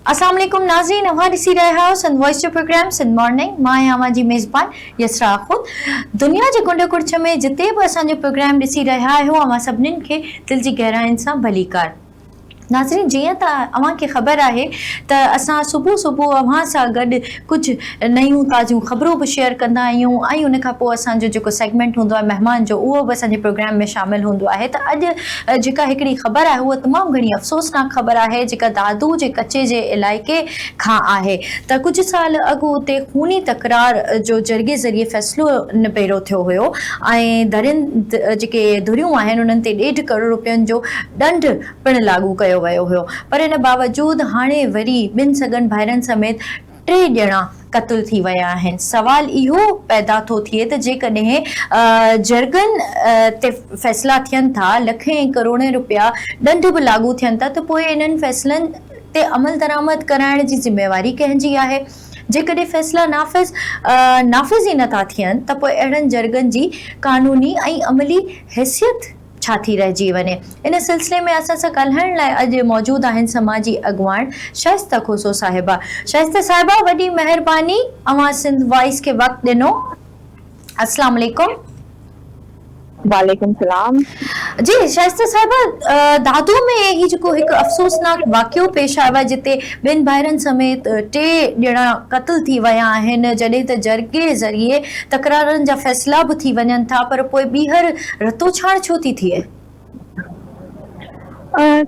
اسلام عليڪم ناظرين اوهان ڏسي رهيا آهيو سنڌ وائس جو پروگرام سنڌ مارننگ مان آهيان اوهان جي ميزبان يسرا آخوند دنيا جي ڪنڊ ڪڙڇ ۾ جتي به اسان جو پروگرام ڏسي رهيا آهيو اوهان سڀنين کي دل جي گهراين سان ڀليڪار ناظرين جيئن ته اوهان کي خبر آهي ته اسان صبح صبح اوهان سان گڏ ڪجهه نيون تازيون خبرون به شيئر ڪندا آهيون ۽ ان کان پوء اسان جو جيڪو سيگمينٽ هوندو آهي مهمان جو اهو به اسان جي پروگرام ۾ شامل هوندو آهي ته اڄ جيڪا هڪڙي خبر آهي اهو تمام گهڻي افسوسناڪ خبر آهي جيڪا دادو جي ڪچي جي علائقي کان آهي ته ڪجهه سال اڳ اتي خوني تڪرار جو جرڳي ذريعي فيصلو نپيرو ٿيو هيو ۽ ڌرين جيڪي ڌريون آهن انهن تي ڏيڍ ڪروڙ روپين جو ڏنڊ پڻ لاڳو ڪيو ويو هيو پر ان باوجود هاڻي وري ٻن سڳن ڀائرن سميت ٽي ڄڻا قتل ٿي ويا آهن سوال اهو پيدا ٿو ٿئي ته جيڪڏهن جرڳن تي فيصلا ٿين ٿا لکين ۽ ڪروڙين رپيا ڏنڊ به لاڳو ٿين ٿا ته پوء انهن فيصلن تي عملدرآمد ڪرائڻ جي ذميواري ڪنهن جي آهي جيڪڏهن فيصلا نافذ نافذ ئي نه ٿا ٿين ته پوء اهڙن جرڳن جي قانوني ۽ عملي حيثيت ڇا ٿي رهجي وڃي. ان سلسلي ۾ اسان سان ڳالهائڻ لاء اڄ موجود آهن سماجي اڳواڻ شائسته کوسو صاحبه. شائسته صاحبه وڏي مهرباني اوهان سنڌ وائس کي وقت ڏنو. اسلام عليڪم. وعليڪم سلام. جي شائسته صاحبه دادو ۾ هي جيڪو هڪ افسوسناڪ واقعو پيش آيو آهي جتي ٻن ڀائرن سميت ٽي ڄڻا قتل ٿي ويا آهن جڏهن ته جرڳي ذريعي تڪرارن جا فيصلا به ٿي وڃن ٿا پر پوء ٻيهر رتو ڇاڻ ڇو ٿي ٿئي؟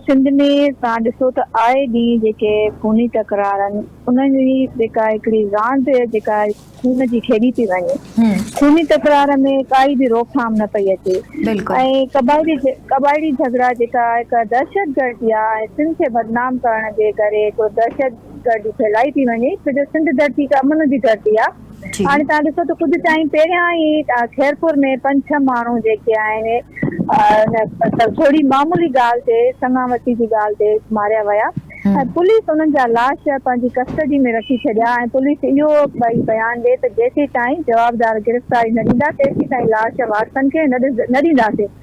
سنڌ ۾ توهان ڏسو ته آء ڏينهن جيڪي خوني تڪرار آهن انهن جي جيڪا هڪڙي راند جيڪا خون جي کيڏي پئي وڃي خوني تڪرار ۾ ڪائي به روڪٿام نه پئي اچي ۽ قبائلي جهڳڙا جيڪا هڪ دهشتگردي آهي ۽ سنڌ کي بدنام ڪرڻ جي ڪري هڪڙو دهشتگردي ڦهلائي پئي وڃي ڇو جو سنڌ ڌرتي هڪ امن جي ڌرتي آهي. جي هاڻي تهان ڏسو ته ڪجهه ٽائيم پهريان ئي خيرپور ۾ پنج ڇهه ماڻهو جيڪي آهن ان ٿوري معمولي ڳالهه تي سڱا وسي جي ڳالهه تي ماريا ويا ۽ پوليس انهن جا لاش پنهنجي ڪسٽڊي ۾ رکي ڇڏيا ۽ پوليس اهو ٻئي بيان ڏي ته جيسيتائين جوابدار گرفتاري نه ڏيندا تيسيتائين لاش وارثن کي نه ڏينداسين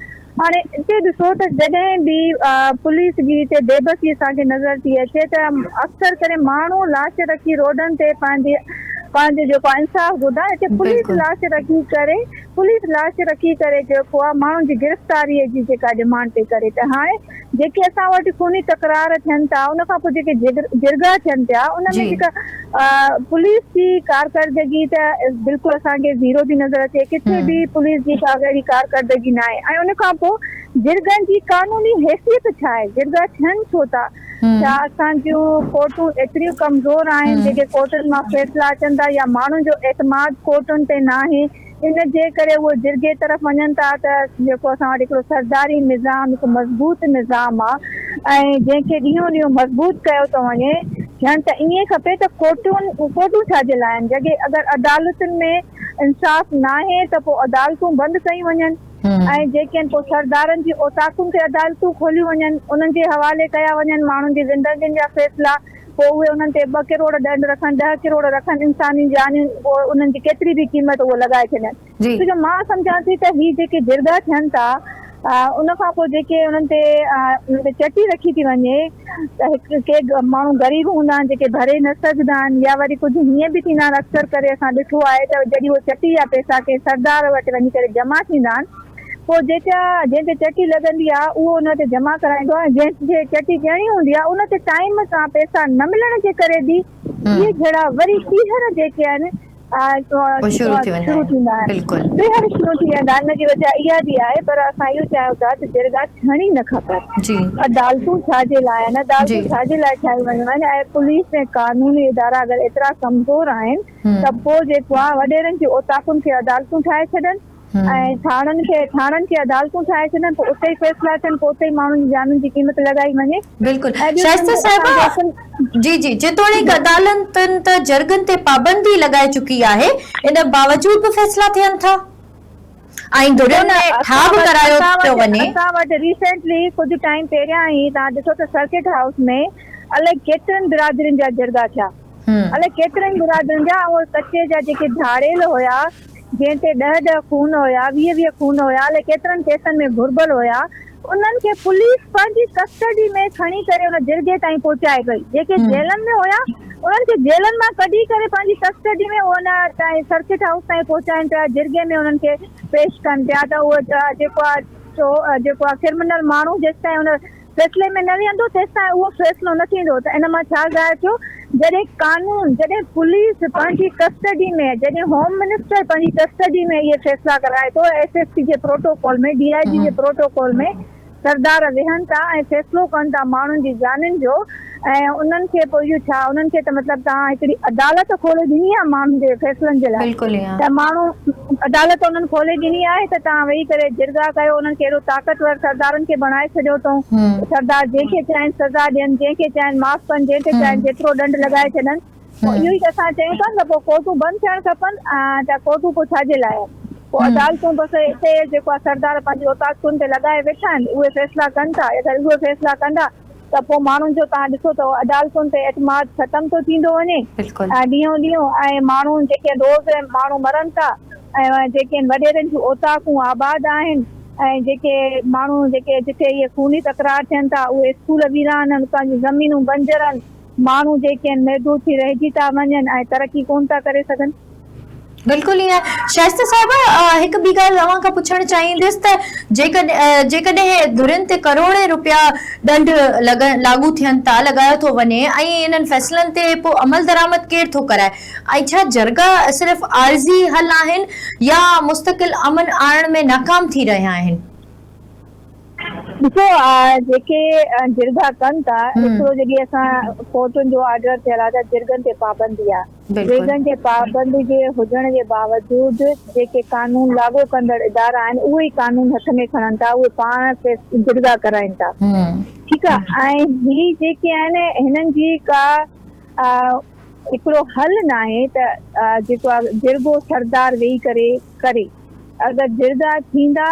هاڻي اتي ڏسو ته جڏهن به پوليس جي اتي بي بسي اسان کي نظر ٿي اچي ته اڪثر ڪري ماڻهو لاش رکي روڊن تي پنهنجي پنهنجو جيڪو آهي انصاف گهردا اتي پوليس لاش رکي ڪري پوليس لاش رکي ڪري جيڪو آهي ماڻهن جي گرفتاري جي جيڪا ڊمانڊ پئي ڪري ته هاڻي جيڪي اسان وٽ خوني تڪرار ٿين ٿا ان کان پوء جيڪي جرڳا ٿين پيا ان ۾ جيڪا پوليس جي ڪارڪردگي ته بلڪل اسان کي زيرو ٿي نظر اچي ڪٿي به پوليس جي ڪا اهڙي ڪارڪردگي ناهي ۽ ان کان پوء جرڳن جي قانوني حيثيت ڇا آهي جرڳا ٿين ڇو ٿا ڇا اسان جون ڪورٽون ايتريون ڪمزور آهن جيڪي ڪورٽن مان فيصلا اچن ٿا يا ماڻهن جو اعتماد ڪورٽن تي ناهي ان جي ڪري اهي جرڳي طرف وڃن ٿا ته جيڪو اسان وٽ هڪڙو سرداري نظام هڪ مضبوط نظام آ ۽ جنهن کي ڏينهون ڏينهون مضبوط ڪيو ٿو وڃي ٿيڻ ته ائين کپي ته ڪورٽون ڪورٽون ڇا جي لاء آهن جڏهن اگر عدالتن ۾ انصاف ناهي ته پوء عدالتون بند ڪيون وڃن ۽ جيڪي آهن پوء سردارن جي اوطاقن تي عدالتون کوليون وڃن انهن جي حوالي ڪيا وڃن ماڻهن جي زندگين جا فيصلا پوء اهي انهن تي ٻه ڪروڙ ڏنڊ رکن، ڏهه ڪروڙ رکن انساني جانيون پوء انهن جي ڪيتري به قيمت اهو لڳائي ڇڏين. ڇو جو مان سمجهان ٿي ته هي جيڪي جرڳا ٿين ٿا ان کان پوء جيڪي انهن تي انهن تي چٽي رکي ٿي وڃي ته هڪ ڪي ماڻهو غريب هوندا آهن جيڪي ڀري نه سگهندا آهن يا وري ڪجهه هيئن به ٿيندا آهن اڪثر ڪري اسان ڏٺو آهي ته جڏهن اهي چٽي يا پئسا ڪنهن سردار وٽ وڃي ڪري جمع ٿيندا آهن پوء جيڪا جنهن تي چٽي لڳندي آ اهو ان تي جمع ڪرائيندو آ ۽ جنهن کي چٽي ڏيڻي هوندي آ ان تي ٽائيم سان پئسا نه ملڻ جي ڪري به اهي جھڙا وري ٻيهر جيڪي آهن شروع ٿي ويندا آهن ٻيهر شروع ٿي ويندا آهن ان جي وجه اها به آهي پر اسان اهو چاهيون ٿا ته جرڳا ٿيڻي نه کپن عدالتون ڇا جي لاء آهن عدالتون ڇا جي لاء ٺاهيون ويون آهن ۽ پوليس ۽ قانوني ادارا اگر ايترا ڪمزور آهن ته پوء جيڪو آ وڏيرن جي اوطاقن کي عدالتون ٺاهي ڇڏن ۽ ٿاڻن کي ٿاڻن کي عدالتون ٺاهي ڇڏن ته اتي ئي فيصلا ٿين پوء اتي ئي ماڻهن جي جانن جي قيمت لڳائي وڃي. بلڪل شائسته صاحبه جي جي جيتوڻيڪ عدالتن ته جرڳن تي پابندي لڳائي چڪي آهي ان باوجود به فيصلا ٿين ٿا ۽ ڌرين ۾ ٺاهه به ڪرايو پيو وڃي. اسان وٽ ريسينٽلي ڪجهه ٽائيم پهريان ئي توهان ڏسو ته سرڪٽ هائوس ۾ الائي ڪيترين برادرين جا جرڳا ٿيا الائي ڪيترين برادرين جا ۽ اهي ڪچي جا جيڪي ڌاڙيل هيا جنهن تي ڏهه ڏهه خون هيا، ويهه ويهه خون هيا الائي ڪيترن ڪيسن ۾ گهربل هيا، انهن کي پوليس پنهنجي ڪسٽڊي ۾ کڻي ڪري ان جرڳي تائين پهچائي پئي، جيڪي جيلن ۾ هيا انهن کي جيلن مان ڪڍي ڪري پنهنجي ڪسٽڊي ۾ ان تائين سرڪٽ هائوس تائين پهچائين پيا، جرڳي ۾ انهن کي پيش ڪن پيا ته اهو جيڪو آ چو جيڪو آ ڪرمنل ماڻهو جيستائين ان فيصلي ۾ نه ويهندو تيستائين اهو فيصلو نه ٿيندو ته ان مان ڇا ظاهر ٿيو جڏهن قانون جڏهن پوليس پنهنجي ڪسٽڊي ۾ جڏهن هوم منسٽر پنهنجي ڪسٽڊي ۾ اهي فيصلا ڪرائي ٿو ايس ايس پي جي پروٽوڪول ۾ ڊي آء جي جي پروٽوڪول ۾ سردار ويهن ٿا ۽ فيصلو ڪن ٿا ماڻهن جي جانين جو ۽ انهن کي پوء اهو ڇا انهن کي ته مطلب توهان هڪڙي عدالت کولي ڏني آهي ماڻهن جي فيصلن جي لاء بلڪل ايئن. ته ماڻهو عدالت انهن کولي ڏني آهي ته توهان ويهي ڪري جرڳا ڪيو انهن کي اهڙو طاقتور سردارن کي بڻائي ڇڏيو اٿئون ته سردار جنهن کي چاهين سزا ڏين جنهن کي چاهين معاف ڪن جنهن تي چاهين جيترو ڏنڊ لڳائي ڇڏن پوء اهو ئي ته اسان چيون ٿا نه ته پوء ڪورٽون بند ٿيڻ کپن ته ڪورٽون پوء ڇا جي لاء آهن پوء عدالتون بس اتي جيڪو آهي سردار پنهنجي اوطاقتن تي لڳائي ويٺا آهن اهي فيصلا ڪن ٿا اگر اهي فيصلا ڪندا ته پوء ماڻهن جو تان ڏسو ته عدالتن تي اعتماد ختم ٿو ٿيندو وڃي بلڪل. ڏينهون ڏينهون ۽ ماڻهو جيڪي روز ماڻهو مرن ٿا ۽ جيڪي وڏيرن جون اوطاقون آباد آهن ۽ جيڪي ماڻهو جيڪي جتي اهي خوني تڪرار ٿين ٿا اهي اسڪول ويران ان اتان جون زمينون بنجر ان ماڻهو جيڪي ان محدود ٿي رهجي ٿا وڃن ۽ ترقي ڪونه ٿا ڪري سگهن. بلڪل ائين شائسته صاحب هڪ ٻي ڳالهه اوهان کان پڇڻ چاهيندس ته جيڪڏهن ڌرين تي ڪروڙين روپيا ڏنڊ لاڳو ٿين ٿا لڳايو ٿو وڃي ۽ انهن فيصلن تي پوء عملدرآمد ڪير ٿو ڪرائي ۽ ڇا جرڳا صرف عارضي حل آهن يا مستقل امن آڻڻ ۾ ناڪام ٿي رهيا آهن. ڏسو جيڪي جرڳا ڪن ٿا هڪڙو جيڪي اسان ڪورٽن جو آرڊر ٿيل آهي ته جرڳن تي پابندي آهي بلڪل. ويڳن جي پابندي جي هجڻ جي باوجود جيڪي قانون لاڳو ڪندڙ ادارا آهن اهي ئي قانون هٿ ۾ کڻن ٿا اهي پاڻ ڪيس جرڳا ڪرائين ٿا ٺيڪ آ ۽ هي جيڪي آهن هنن جي ڪا هڪڙو حل ناهي ته جيڪو آ جرڳو سردار ويهي ڪري ڪري اگر جرڳا ٿيندا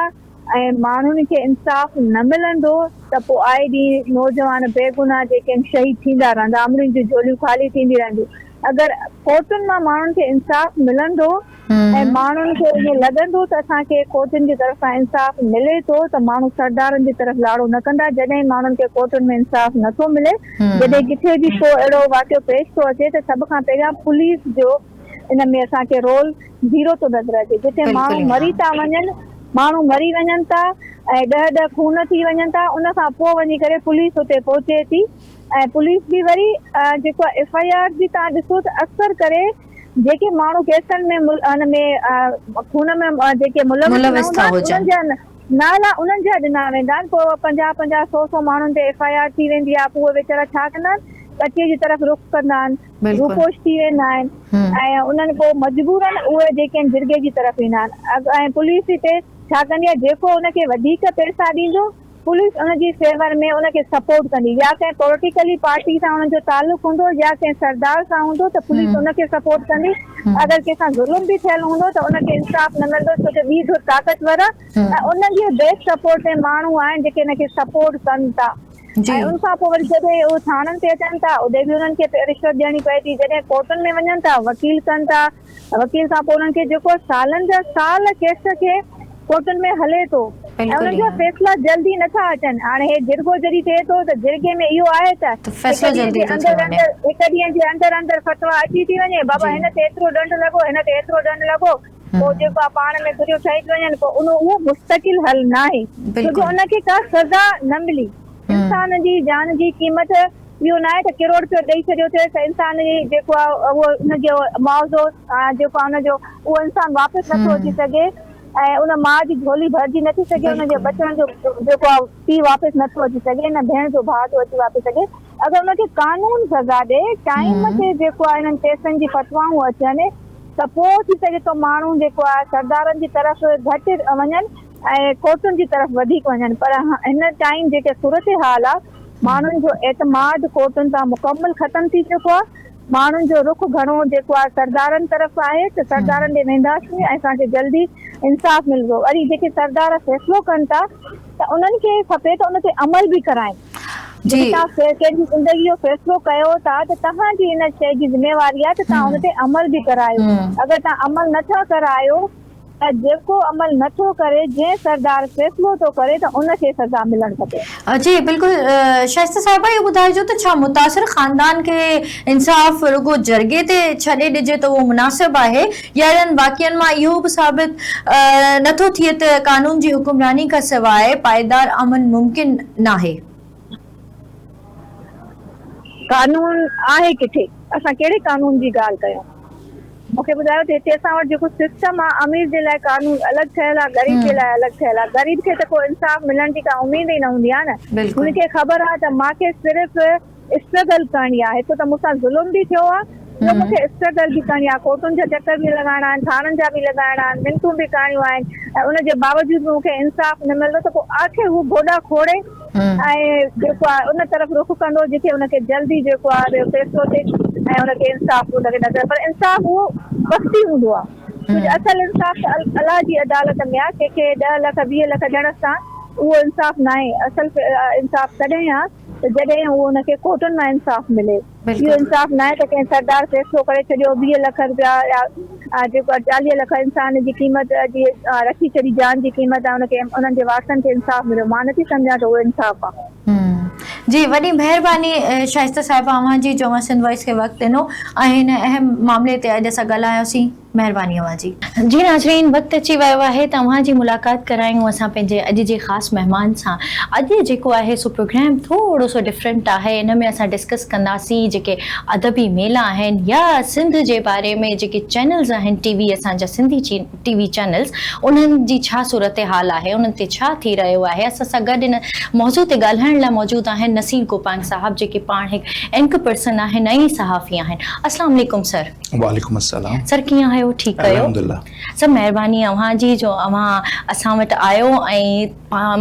۽ ماڻهن کي انصاف نه ملندو ته پوء آئي ڏينهن نوجوان بيگناهه جيڪي آهن شهيد ٿيندا رهندا امڙين جون جهوليون خالي ٿينديون رهنديون اگر ڪورٽن مان ماڻهن کي انصاف ملندو ۽ ماڻهن کي ائين لڳندو ته اسان کي ڪورٽن جي طرف کان انصاف ملي ٿو ته ماڻهو سردارن جي طرف لاڙو نه ڪندا جڏهن ماڻهن کي ڪورٽن ۾ انصاف نٿو ملي جڏهن ڪٿي به ڪو اهڙو واقعو پيش ٿو اچي ته سڀ کان پهريان پوليس جو ان ۾ اسان کي رول زيرو ٿو نظر اچي جتي ماڻهو مري ٿا وڃن ماڻهو مري وڃن ٿا ۽ ڏهه ڏهه خون ٿي وڃن ٿا ان کان پوء وڃي ڪري پوليس اتي پهچي ٿي ۽ پوليس به وري جيڪو آهي ايف آئي آر جي تان ڏسو ته اڪثر ڪري جيڪي ماڻهو ڪيسن ۾ ان ۾ خون ۾ جيڪي ملوث نه هوندا انهن جا نالا انهن جا ڏنا ويندا آهن پوء پنجاهه پنجاهه سو سو ماڻهن تي ايف آئي آر ٿي ويندي آهي پوء ويچارا ڇا ڪندا آهن ڪچي جي طرف رخ ڪندا آهن روپوش ٿي ويندا آهن ۽ انهن پوء مجبورا اهي جيڪين جرڳي جي طرف ايندا آهن ۽ پوليس هتي ڇا ڪندي آهي جيڪو ان کي وڌيڪ پئسا ڏيندو پوليس ان جي فيور ۾ ان کي سپورٽ ڪندي يا ڪنهن پوليٽيڪلي پارٽي سان انهن جو تعلق هوندو يا ڪنهن سردار سان هوندو ته پوليس ان کي سپورٽ ڪندي اگر ڪنهن سان ظلم به ٿيل هوندو ته ان کي انصاف نه ملندو ڇو جو ٻي ڌر طاقتور آهي ۽ انهن جي بيڪ سپورٽ ۾ ماڻهو آهن جيڪي ان کي سپورٽ ڪن ٿا. ۽ ان کان پوء وري جڏهن اهي ٿاڻن تي اچن ٿا ادي به انهن کي رشوت ڏيڻي پئي ٿي جڏهن ڪورٽن ۾ وڃن ٿا وڪيل ڪن ٿا وڪيل کان پوء انهن کي جيڪو سالن جا سال ڪيس کي ڪورٽن ۾ هلي ٿو ۽ انهن جا فيصلا جلدي نه ٿا اچن هاڻي هي جرڳو جڏهن ٿئي ٿو ته جرڳي ۾ اهو آهي ته هڪ ڏينهن جي اندر اندر هڪ ڏينهن جي اندر اندر فتويٰ اچي ٿي وڃي بابا هن تي ايترو ڏنڊ لڳو هن تي ايترو ڏنڊ لڳو. پوء جيڪو آ پاڻ ۾ گهريو ٺهي ٿي وڃن پوء ان اهو مستقل حل ناهي ڇو جو ان کي ڪا سزا نه ملي انسان جي جان جي قيمت اهو ناهي ته ڪروڙ رپيو ڏئي ڇڏيو ٿيس ته انسان جي جيڪو آ اهو ان جو معاوضو جيڪو آ ان جو اهو انسان واپس نه ٿو اچي سگهي ۽ ان ماء جي جهولي ڀرجي نه ٿي سگهي ان جي ٻچڙن جو جيڪو آ پيء واپس نه ٿو اچي سگهي نه ڀيڻ جو ڀاء ٿو اچي واپس سگهي اگر ان کي قانون سزا ڏئي، ٽائيم تي جيڪو آهي انهن ڪيسن جي فتوائون اچن ته پوء ٿي سگهي ٿو ماڻهو جيڪو آهي سردارن جي طرف گهٽ وڃن ۽ ڪورٽن جي طرف وڌيڪ وڃن پر هن ٽائيم جيڪي صورتحال آهي ماڻهن جو اعتماد ڪورٽن تان مڪمل ختم ٿي چڪو آهي ماڻهن جو رخ گهڻو جيڪو آهي سردارن طرف آهي ته سردارن ڏي وينداسين ۽ اسان کي جلدي انصاف ملندو وري جيڪي سردار فيصلو ڪن ٿا ته انهن کي کپي ته ان تي عمل به ڪرائين. جي توهان ڪنهن جي زندگي جو فيصلو ڪيو ٿا ته توهان جي ان شيء جي ذميواري آهي ته توهان ان تي عمل به ڪرايو اگر توهان عمل نه ٿا ڪرايو ته جيڪو عمل نه ٿو ڪري جنهن سردار فيصلو ٿو ڪري ته ان کي سزا ملڻ کپي. جي بلڪل شائسته صاحبه اهو ٻڌائجو ته ڇا متاثر خاندان کي انصاف رڳو جرڳي تي ڇڏي ڏجي ته اهو مناسب آهي؟ اهڙن واقعن مان اهو به ثابت نه ٿو ٿئي ته قانون جي حڪمراني کان سواء پائيدار امن ممڪن ناهي. قانون آهي ڪٿي؟ اسان ڪهڙي قانون جي ڳالهه ڪيون؟ مون کي ٻڌايو ته هتي اسان وٽ جيڪو سسٽم آهي، امير جي لاء قانون الڳ ٺهيل آهي، غريب جي لاء الڳ ٺهيل آهي. غريب کي ته ڪو انصاف ملڻ جي ڪا اميد ئي نه هوندي آهي نه. هن کي خبر آهي ته مان کي صرف. اسٽرگل ڪرڻي آ هڪ ته مون سان ظلم به ٿيو آ ٻيو مون کي اسٽرگل به ڪرڻي آ ڪورٽن جا چڪر به لڳائڻا آهن ٿاڻن جا به لڳائڻا آهن منتون به ڪرڻيون آهن ۽ ان جي باوجود به مون کي انصاف نه ملندو ته پو آخر هو گوڏا کوڙي ۽ جيڪو آ ان طرف رخ ڪندو جتي ان کي جلدي جيڪو آ فيصلو ٿئي ۽ ان کي انصاف ان کي نظر پر انصاف اهو وقتي هوندو آ ڪجهه اصل انصاف ته الله جي عدالت ۾ آ ڪنهن کي ڏهه لک ويهه لک ڏيڻ سان اهو انصاف ناهي اصل انصاف تڏهن آ ته جڏهن اهو ان کي ڪوٽن مان انصاف ملي. اهو انصاف ناهي ته ڪنهن سردار فيصلو ڪري ڇڏيو ويهه لک رپيا يا جيڪو آهي چاليهه لک انسان جي قيمت جي رکي ڇڏي جان جي قيمت آهي ان کي انهن جي وارثن کي انصاف مليو مان نٿي سمجهان ته اهو انصاف آهي. جي وڏي مهرباني شائسته صاحبه اوهان جي جو اوهان سنڌ وائس کي وقت ڏنو ۽ هن اهم معاملي تي اڄ اسان ڳالهاياسين. مهرباني اوهان جي. جي ناظرين وقت اچي ويو آهي ته اوهان جي ملاقات ڪرايون اسان پنهنجي اڄ جي خاص مهمان سان اڄ جيڪو آهي سو پروگرام ٿورو سو ڊفرنٽ آهي ان ۾ اسان ڊسڪس ڪنداسين جيڪي ادبي ميلا آهن يا سنڌ جي باري ۾ جيڪي چينلز آهن ٽي وي اسان جا سنڌي ٽي وي چينلز انهن جي ڇا صورت حال آهي انهن تي ڇا ٿي رهيو آهي اسان سان گڏ ان موضوع تي ڳالهائڻ لاء موجود آهن نصير گوپانگ صاحب جيڪي پاڻ هڪ انڪ پرسن آهن ۽ صحافي آهن اسلام عليڪم سر. وعليڪم السلام سر ڪيئن آهيو ٺيڪ آهيو الحمد الله سر مهرباني اوهان جي جو اوهان اسان وٽ آيو ۽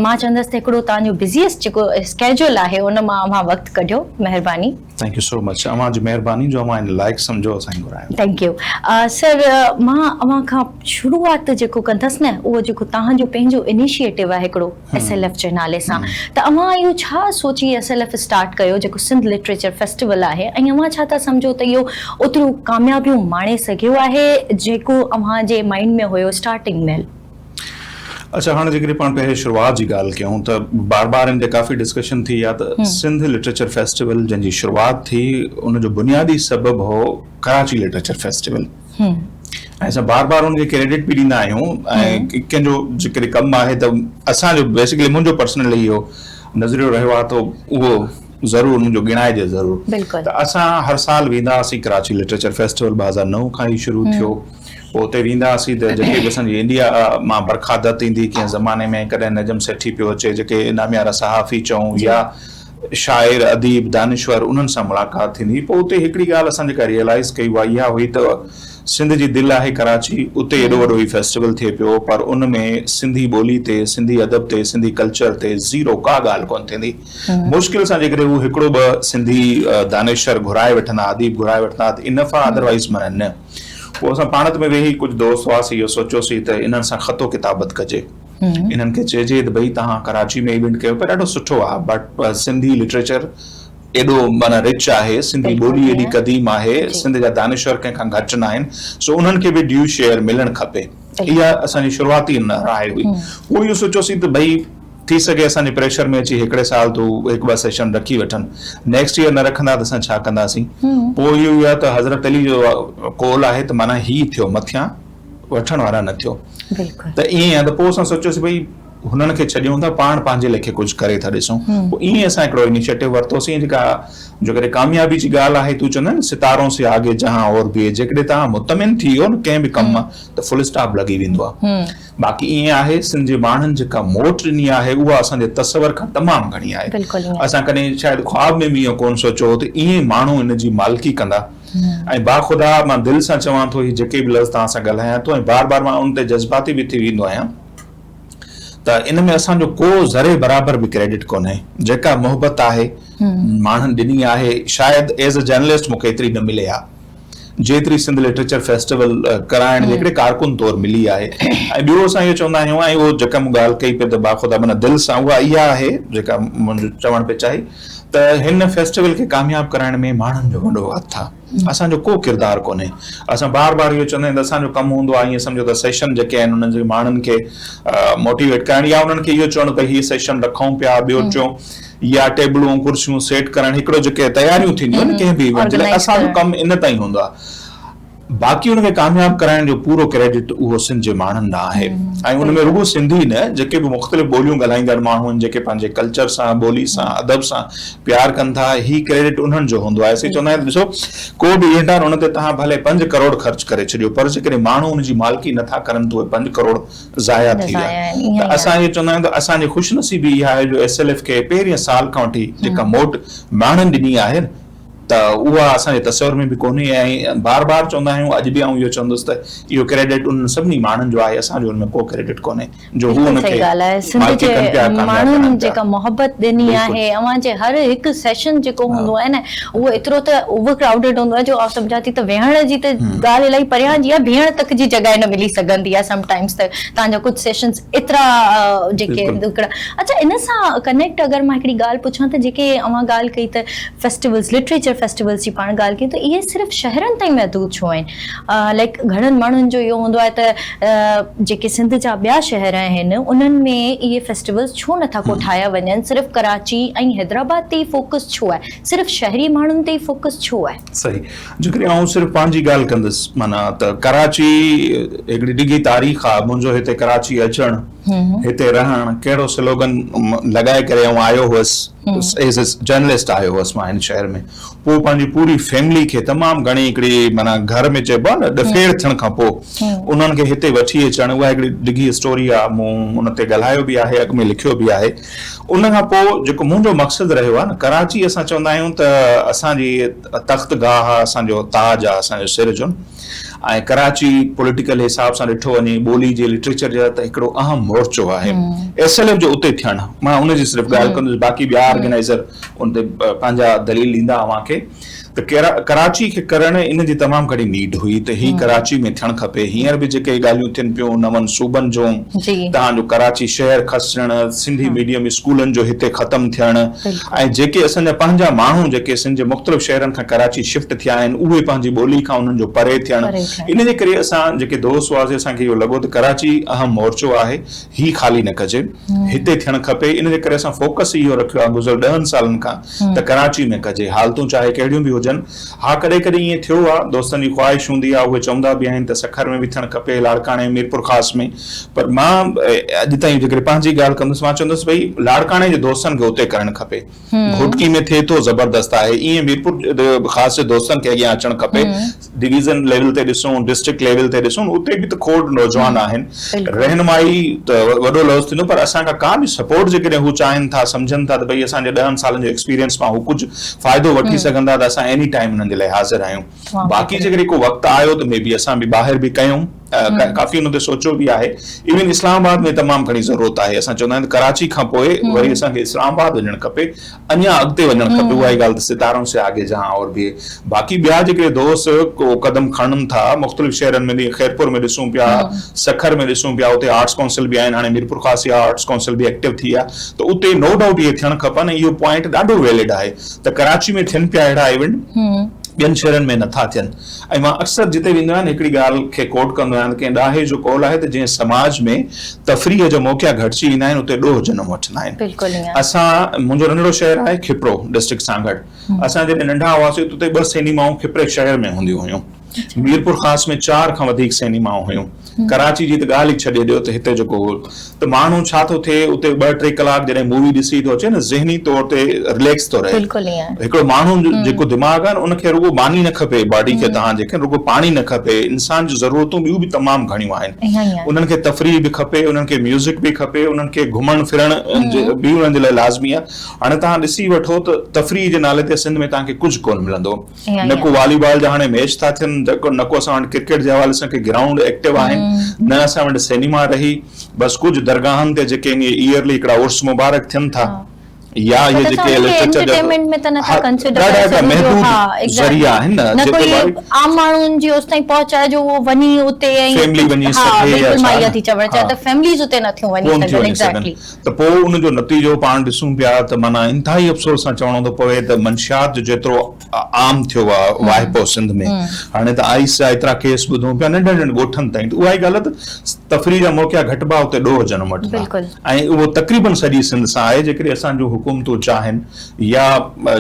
مان چوندس ته هڪڙو توهان جو بزيسٽ جيڪو اسڪيجول آهي ان مان اوهان وقت ڪڍيو مهرباني ٿينڪ يو سو مچ اوهان جي مهرباني جو اوهان ان لائق سمجهو اسان کي گهرايو ٿينڪ يو سر مان اوهان کان شروعات جيڪو ڪندس نه اهو جيڪو توهان جو پنهنجو انيشيٽو آهي هڪڙو ايس ايل ايف جي نالي سان ته اوهان اهو ڇا سوچي ايس ايل ايف اسٽارٽ ڪيو جيڪو سنڌ لٽريچر فيسٽيول آهي ۽ اوهان ڇا ٿا سمجهو ته اهو اوتريون ڪاميابيون ماڻي سگهيو آهي جيڪو اوهان جي مائينڊ ۾ هيو اسٽارٽنگ مهل. اڇا هاڻ جيڪڏهن پاڻ پهرين شروعات جي ڳالهه ڪيون ته بار بار ان تي ڪافي ڊسڪشن ٿي آ ته سنڌ لٽريچر فيسٽيول جنهن جي شروعات ٿي ان جو بنيادي سبب هو ڪراچي لٽريچر فيسٽيول. ھي. ۽ اسان بار بار ان کي ڪريڊٽ به ڏيندا آھيون ۽ ڪنھن جو ذڪر ڪم آھي ته اسان جو بيسڪلي منھنجو پرسنلي اھو نظريو رھيو آھي ته اھو ضرور منھنجو ڳڻائجي ضرور ته اسان ھر سال ويندا ھئاسين ڪراچي لٽريچر فيسٽيول ٻه ھزار نو کان ھي شروع ٿيو پوء اتي ويندا ھئاسين ته جيڪي به اسان جي انڊيا مان برکا دت ايندي ڪنھن زماني ۾ ڪڏھن نجم سيٺي پيو اچي جيڪي ناميارا صحافي چئون يا شاعر، اديب، دانشور انهن سان ملاقات ٿيندي هئي. پوء اتي هڪڙي ڳالهه اسان جيڪا ريئلائيز ڪئي اها اها هئي ته سنڌ جي دل آهي ڪراچي، اتي ايڏو وڏو هي فيسٽيول ٿئي پيو پر ان ۾ سنڌي ٻولي تي، سنڌي ادب تي، سنڌي ڪلچر تي زيرو ڪا ڳالهه ڪونه ٿيندي. مشڪل سان جيڪڏهن هو هڪڙو ٻه سنڌي دانشور گهرائي وٺندا، اديب گهرائي وٺندا ها ته انف ها ادروائيز معنيٰ نه. پوء اسان پاڻت ۾ ويهي ڪجهه دوست هئاسين اهو سوچيوسين ته انهن سان خط و ڪتابت ڪجي. انهن کي چئجي ته ڀئي توهان ڪراچي ۾ هي بنڊ ڪيو پيا ڏاڍو سٺو آهي بٽ سنڌي لٽريچر ايڏو معنيٰ رچ آهي سنڌي ٻولي ايڏي قديم آهي سنڌ جا دانشور ڪنهن کان گهٽ نه آهن سو انهن کي به ڊيو شيئر ملڻ کپي اها اسان جي شروعاتي راء هئي پوء اهو سوچيوسين ته ڀئي ٿي سگهي اسان جي پريشر ۾ اچي هڪڙي سال تو هڪ ٻه سيشن رکي وٺن نيڪسٽ ييئر نه رکندا ته اسان ڇا ڪنداسين پوء اهو ئي آهي ته حضرت علي جو قول آهي ته معنيٰ هي ٿيو مٿيان وٺڻ وارا نه ٿيو ته ائين آهي ته پوء اسان سوچيوسي ڀئي هنن کي ڇڏيون ٿا پاڻ پنهنجي ليکي ڪجهه ڪري ٿا ڏسون پوء ائين اسان هڪڙو انيشيٽو ورتوسين جيڪا جو ڪڏهن ڪاميابي جي ڳالهه آهي تون چوندين ستارون سي آگي جهان اور ڀي هي جيڪڏهن توهان مطمئن ٿي ويو نه ڪنهن به ڪم مان ته فل اسٽاپ لڳي ويندو آهي باقي ائين آهي سنڌ جي ماڻهن جيڪا موٽ ڏني آهي اها اسان جي تصور کان تمام گهڻي آهي اسان ڪڏهن شايد خواب ۾ به ائين ڪونه سوچيو هو ته ائين ماڻهو ان جي مالڪي ڪندا ۽ باخدا مان دل سان چوان ٿو هي جيڪي به لفظ توهان سان ڳالهايان ٿو ۽ بار بار مان ان تي جذباتي به ٿي ويندو آهيان ته ان ۾ اسان جو ڪو ذري برابر به ڪريڊٽ ڪونهي جيڪا محبت آهي ماڻهن ڏني آهي شايد ايز اي جرنلسٽ مونکي ايتري نه ملي آهي جيتري سنڌ لٽريچر فيسٽيول ڪرائڻ جي هڪڙي ڪارڪن طور ملي آهي ۽ ٻيو اسان اهو چوندا آهيون ۽ اهو جيڪا مون ڳالهه ڪئي پئي ته باخدا معنيٰ دل سان اها اها آهي جيڪا منهنجو چوڻ پئي چاهي ته هن فيسٽيول کي ڪامياب ڪرائڻ ۾ ماڻهن جو وڏو هٿ آ اسان جو ڪو ڪردار ڪونهي اسان بار بار اهو چوندا آهيون ته اسان جو ڪم هوندو آ ائين سمجهو ته سيشن جيڪي آهن انهن جي ماڻهن کي موٽيويٽ ڪرڻ يا انهن کي اهو چوڻ ته هي سيشن رکون پيا ٻيو ٽيون يا ٽيبلون ڪرسيون سيٽ ڪرڻ هڪڙو جيڪي تياريون ٿينديون آهن ڪنهن به ايونٽ جي لاء اسان جو ڪم ان تائين هوندو آ. باقي ان کي ڪامياب ڪرائڻ جو پورو ڪريڊٽ اهو سنڌ جي ماڻهن ڏانهن آهي ۽ ان ۾ رڳو سنڌي نه جيڪي به مختلف ٻوليون ڳالهائيندڙ ماڻهو آهن جيڪي پنهنجي ڪلچر سان ٻولي سان ادب سان پيار ڪن ٿا هي ڪريڊٽ انهن جو هوندو آهي اسين چوندا آهيون ته ڏسو ڪو به اينٽار ان تي توهان ڀلي پنج ڪروڙ خرچ ڪري ڇڏيو پر جيڪڏهن ماڻهو ان جي مالڪي نه ٿا ڪرن ته اهي پنج ڪروڙ ضايع ٿي ويا ته اسان اهو چوندا آهيون ته اسان جي خوشنصيبي اها آهي جو ايس ايل ايف کي پهرين سال کان وٺي جيڪا موٽ ماڻهن ڏني آهي ته اها اسان جي تصور ۾ به ڪونهي ۽ بار بار چوندا آهيون، اڄ به آئون اهو چوندس ته اهو ڪريڊٽ انهن سڀني ماڻهن جو آهي، اسان جو ان ۾ ڪو ڪريڊٽ ڪونهي جو هو ان کي مالڪي ڪن پيا، ڪامياب ڪرن پيا. ايترا جيڪي ڏکڙا اڇا ان سان ڪنيڪٽ اگر مان هڪڙي ڳالهه پڇان ته جيڪي اوهان ڳالهه ڪئي ته فيسٽيولز لٽريچر فيسٽيولز جي پاڻ ڳالهه ڪئي ته اهي صرف شهرن تائين محدود ڇو آهن لائڪ گهڻن ماڻهن جو اهو هوندو آهي ته جيڪي سنڌ جا ٻيا شهر آهن انهن ۾ اهي فيسٽيولز ڇو نه ٿا ڪو ٺاهيا وڃن صرف ڪراچي ۽ حيدرآباد تي ئي فوڪس ڇو آهي صرف شهري ماڻهن تي ئي فوڪس ڇو آهي صحيح جيڪڏهن آئون صرف پنهنجي ڳالهه ڪندس معنيٰ ته ڪراچي هڪڙي ڊگهي تاريخ آهي منهنجو هتي ڪراچي اچڻ هتي رهڻ ڪهڙو سلوگن لڳائي ڪري آئون آيو هوس ايز اي جرنلسٽ آيو هوس مان هن شهر ۾ پوء پنهنجي پوري فيملي کي تمام گهڻي هڪڙي معنيٰ گهر ۾ چئبو آهي نه ڏڦيڙ ٿيڻ کان پوء انهن کي هتي وٺي اچڻ اها هڪڙي ڊگهي اسٽوري آهي مون ان تي ڳالهايو به آهي اڳ ۾ لکيو به آهي ان کان پوء جيڪو منهنجو مقصد رهيو آهي نه ڪراچي اسان چوندا آهيون ته اسان جي تخت گاهه آهي اسان جو تاج آهي اسان جو سر جون ۽ ڪراچي پوليٽيڪل حساب سان ڏٺو وڃي ٻولي جي لٽريچر جي ته هڪڙو اهم مورچو آهي ايس ايل ايف جو اتي ٿيڻ مان ان جي صرف ڳالهه ڪندس باقي ٻيا آرگنائيزر ان تي پنهنجا دليل ڏيندا اوهان کي. ته ڪراچي کي ڪرڻ ان جي تمام گهڻي نيڊ هئي ته هي ڪراچي ۾ ٿيڻ کپي هينئر به جيڪي ڳالهيون ٿين پيون نون صوبن جون تهان جو ڪراچي شهر کسجڻ سنڌي ميڊيم اسڪولن جو هتي ختم ٿيڻ ۽ جيڪي اسان جا پنهنجا ماڻهو جيڪي سنڌ جي مختلف شهرن کان ڪراچي شفٽ ٿيا آهن اهي پنهنجي ٻولي کان انهن جو پري ٿيڻ ان جي ڪري اسان جيڪي دوست هئاسي اسان کي اهو لڳو ته ڪراچي اهم مورچو آهي هي خالي نه ڪجي، هتي ٿيڻ کپي، ان جي ڪري اسان فوڪس ئي اهو رکيو آهي گذريل ڏهن سالن کان ته ڪراچي ۾ ڪجي، حالتون چاهي ڪهڙيون به هجن، ها ڪڏهن ڪڏهن ائين ٿيو آهي، دوستن جي خواهش هوندي آهي، اهي چوندا به آهن ته سکر ۾ به ٿيڻ کپي، لاڙڪاڻي، ميرپورخاص ۾ پر مان اڄ تائين جيڪڏهن پنهنجي ڳالهه ڪندس مان چوندس ڀئي لاڙڪاڻي جي دوستن کي اتي ڪرڻ کپي. گهوٽڪي ۾ ٿئي ٿو زبردست آهي ايئن ميرپور خاص جي دوستن کي اڳيان اچڻ کپي ڊويزن ليول تي ڏسون ڊسٽرڪٽ ليول تي ڏسون اتي به ته کوڙ نوجوان آهن رهنمائي ته وڏو لفظ ٿيندو پر اسان کان ڪا به سپورٽ جيڪڏهن هو چاهن ٿا سمجهن ٿا ته ڀئي اسان جي ڏهن سالن جو ايڪسپيرينس مان هو ڪجهه فائدو وٺي سگهن ٿا ته اسان ايني ٽائيم انهن جي لاء حاضر آهيون باقي جيڪڏهن ڪو وقت آيو ته مي بي اسان به ٻاهر به ڪيون ڪافي ان تي سوچيو به آهي ايون اسلام آباد ۾ تمام گهڻي ضرورت آهي اسان چوندا آهيون ته ڪراچي کان پوء وري اسان کي اسلام آباد وڃڻ کپي اڃا اڳتي وڃڻ کپي اها ئي ڳالهه ته ستارون سي آگي جهان اور ڀي باقي ٻيا جيڪي دوست ڪو قدم کڻن ٿا مختلف شهرن ۾ جيئن خيرپور ۾ ڏسون پيا سکر ۾ ڏسون پيا اتي آرٽس ڪائونسل به آهن هاڻي ميرپور خاص يا آرٽس ڪائونسل به ايڪٽو ٿي آهي ته اتي نو ڊائوٽ اهي ٿيڻ کپن ۽ اهو پوائنٽ ڏاڍو ويلڊ آهي ته ڪراچي ۾ ٿين پيا اهڙا ايونٽ ٻين شهرن ۾ نٿا ٿين ۽ مان اڪثر جتي ويندو آهيان هڪڙي ڳالهه کي ڪوٽ ڪندو آهيان ته ڪنهن ڏاهي جو قول آهي ته جنهن سماج ۾ تفريح جا موقعا گهٽجي ويندا آهن اتي ڏوهه جنم وٺندا آهن. بلڪل ائين. اسان منهنجو ننڍڙو شهر آهي کپرو ڊسٽرڪٽ سانگهڙ اسان جڏهن ننڍا هئاسين ته اتي ٻه سينيمائون کپري شهر ۾ هونديون هيون ميرپورخاص ۾ چار کان وڌيڪ سينيمائون هيون. ڪراچي جي ته ڳالهه ئي ڇڏي ڏيو ته هتي جيڪو هو ته ماڻهو ڇا ٿو ٿئي اتي ٻه ٽي ڪلاڪ جڏهن مووي ڏسي ٿو اچي نه ذهني طور تي رليڪس ٿو رهي هڪڙو ماڻهو جيڪو دماغ آهي نه ان کي رڳو ماني نه کپي باڊي کي تهان جي کي رڳو پاڻي نه کپي انسان جون ضرورتون ٻيون به تمام گهڻيون آهن انهن کي تفريح به کپي انهن کي ميوزڪ به کپي انهن کي گهمڻ ڦرڻ به انهن جي لاء لازمي آهي هاڻي تهان ڏسي وٺو ته تفريح جي نالي تي سنڌ ۾ تهان کي ڪجهه ڪونه ملندو نه ڪو والي بال جا هاڻي ميچ ٿا ٿين نه ڪو اسان وٽ ڪرڪيٽ جي حوالي سان ڪي گرائونڊ ايڪٽو آهن نه اسان وٽ سينيما رهي بس ڪجهه درگاهن تي جيڪي ائين ايئرلي هڪڙا عرس مبارڪ ٿين ٿا يا اهي جيڪي لٽريچر جا ڏاڍا هڪڙا محدود ذريعا آهن نه ڪو عام ماڻهن جي اوستائين پهچ آهي جو اهو وڃي اتي ۽ فيملي وڃي سگهي يا ڇا فيمليز اتي نه ٿيون وڃي سگهن ايگزيڪٽلي ته پوء ان جو نتيجو پاڻ ڏسون پيا ته معنيٰ انتهائي افسوس سان چوڻو ٿو پوي ته منشيات جو جيترو عام ٿيو آهي واهپو سنڌ ۾ هاڻي ته آئس جا ايترا ڪيس ٻڌون پيا ننڍن ننڍن ڳوٺن تائين ته اها ئي ڳالهه ته تفريح جا موقعا گهٽبا اتي ڏوهه جنم وٺندا ۽ اهو تقريبن سڄي سنڌ سان آهي جيڪڏهن اسان جون حڪومتون چاهن يا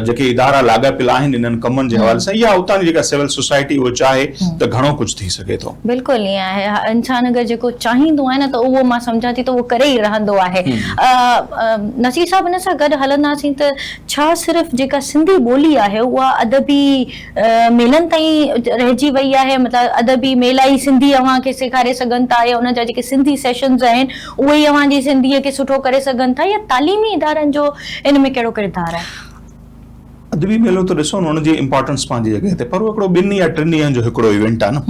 جيڪي ادارا لاڳاپيل آهن انهن ڪمن جي حوالي سان يا اتان جي جيڪا سول سوسائٽي اهو چاهي ته گهڻو ڪجهه ٿي سگهي ٿو. بلڪل ائين آهي انسان اگر جيڪو چاهيندو آهي نه ته اهو مان سمجهان ٿي ته اهو ڪري ئي رهندو آهي نصير صاحب ان سان گڏ هلنداسين ته ڇا صرف جيڪا سنڌي ٻولي آهي اها ادبي ميلن تائين رهجي وئي آهي مطلب ادبي ميلا ئي سنڌي اوهان کي سيکاري سگهن ٿا يا ان جا جيڪي سنڌي سيشنز آهن اهي ئي اوهان جي سنڌيء کي سٺو ڪري سگهن ٿا يا تعليمي ادارن جو ان ۾ ڪهڙو ڪردار آهي؟ ادبي ميلو ته ڏسو نه ان جي امپارٽنس پنهنجي جڳهه تي پر اهو هڪڙو ٻن يا ٽن ڏينهن جو هڪڙو ايونٽ آهي نه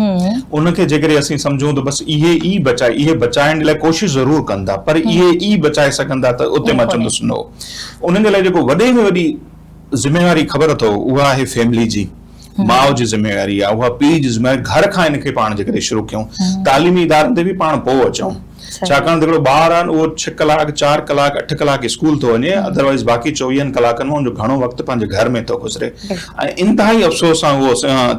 ان کي جيڪڏهن اسين سمجهون ته بس اهي ئي بچائي اهي بچائڻ جي لاء ڪوشش ضرور ڪن ٿا پر اهي ئي بچائي سگهن ٿا ته اتي مان چوندس نو انهن جي لاء جيڪو وڏي ۾ وڏي ذميواري خبر اٿو اها آهي فيملي جي ماء جي ذميواري آهي اها پيء جي ذميواري گهر کان هن کي پاڻ جي ڪري شروع ڪيون تعليمي ادارن تي به پاڻ پوء اچون ڇاڪاڻ ته هڪڙو ٻار آهي اهو ڇهه ڪلاڪ چار ڪلاڪ اٺ ڪلاڪ اسڪول ٿو وڃي ادروائز باقي چوويهن ڪلاڪن مان ان جو گهڻو وقت پنهنجي گهر ۾ ٿو گذري ۽ انتهائي افسوس سان اهو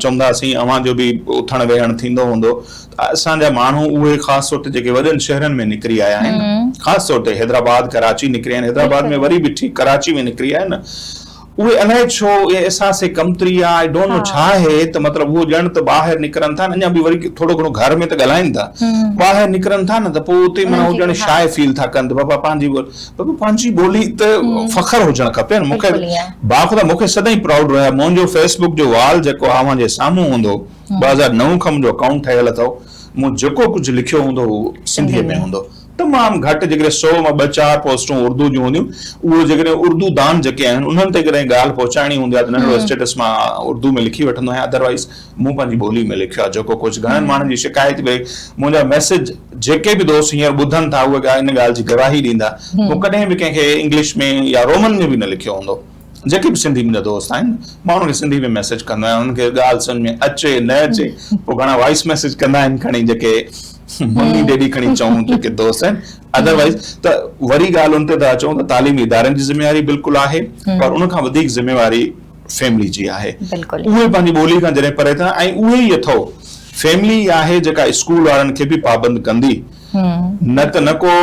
چونداسين اوهان جو به اٿڻ ويهڻ ٿيندو هوندو اسان جا ماڻهو اهي خاص طور تي جيڪي وڏن شهرن ۾ نڪري آيا آهن خاص طور تي حيدرآباد ڪراچي نڪري آهن حيدرآباد ۾ وري به ٺيڪ ڪراچي ۾ نڪري آهن نه اهي الائي ڇو اهي احساس ڪمتري يا آئي ڊونٽ نو ڇا آهي ته مطلب هو ڄڻ ته ٻاهر نڪرن ٿا اڃا به وري ٿورو گهڻو گهر ۾ ته ڳالهائين ٿا ٻاهر نڪرن ٿا نه ته پوء اتي معنيٰ هو ڄڻ شاء فيل ٿا ڪن ته بابا پنهنجي بابا پنهنجي ٻولي ته فخر هجڻ کپي نه مون کي باخدا مون کي سدائين پرائوڊ رهيو منهنجو فيسبوڪ جو وال جيڪو اوهان جي سامهون هوندو ٻه هزار نو کان منهنجو اڪائونٽ ٺهيل اٿئو مون جيڪو ڪجهه لکيو هوندو اهو سنڌيء ۾ هوندو تمام گهٽ جيڪڏهن سئو مان ٻه چار پوسٽون اردو جون هونديون اهو جيڪڏهن اردو دان جيڪي آهن انهن تي ڪڏهن ڳالهه پهچائڻي هوندي آهي ته ننڍڙو اسٽيٽس مان اردو ۾ لکي وٺندو آهيان ادروائز مون پنهنجي ٻولي ۾ لکيو آهي جيڪو ڪجهه گهڻن ماڻهن جي شڪايت به منهنجا ميسيج جيڪي به دوست هينئر ٻڌن ٿا اهي ان ڳالهه جي گواهي ڏيندا مون ڪڏهن به ڪنهن کي انگلش ۾ يا رومن ۾ به نه لکيو هوندو جيڪي به سنڌي منهنجا دوست آهن ماڻهو کي سنڌي ۾ ميسيج ڪندو آهيان انهن کي ڳالهه سمجهه ۾ اچي نه اچي پوء گهڻا وائيس ميسيج ڪندا آهن کڻي جيڪي ممي ڊيڊي کڻي چئون جيڪي دوست آهن ادروائيز ته وري ڳالهه ان تي ٿا اچون ته تعليمي ادارن جي ذميواري بلڪل آهي پر ان کان وڌيڪ ذميواري فيملي جي آهي اهي پنهنجي ٻولي کان جڏهن پري ٿيندا ۽ اهي ئي اٿئو فيملي آهي جيڪا اسڪول وارن کي به پابند ڪندي نه ته نه ڪو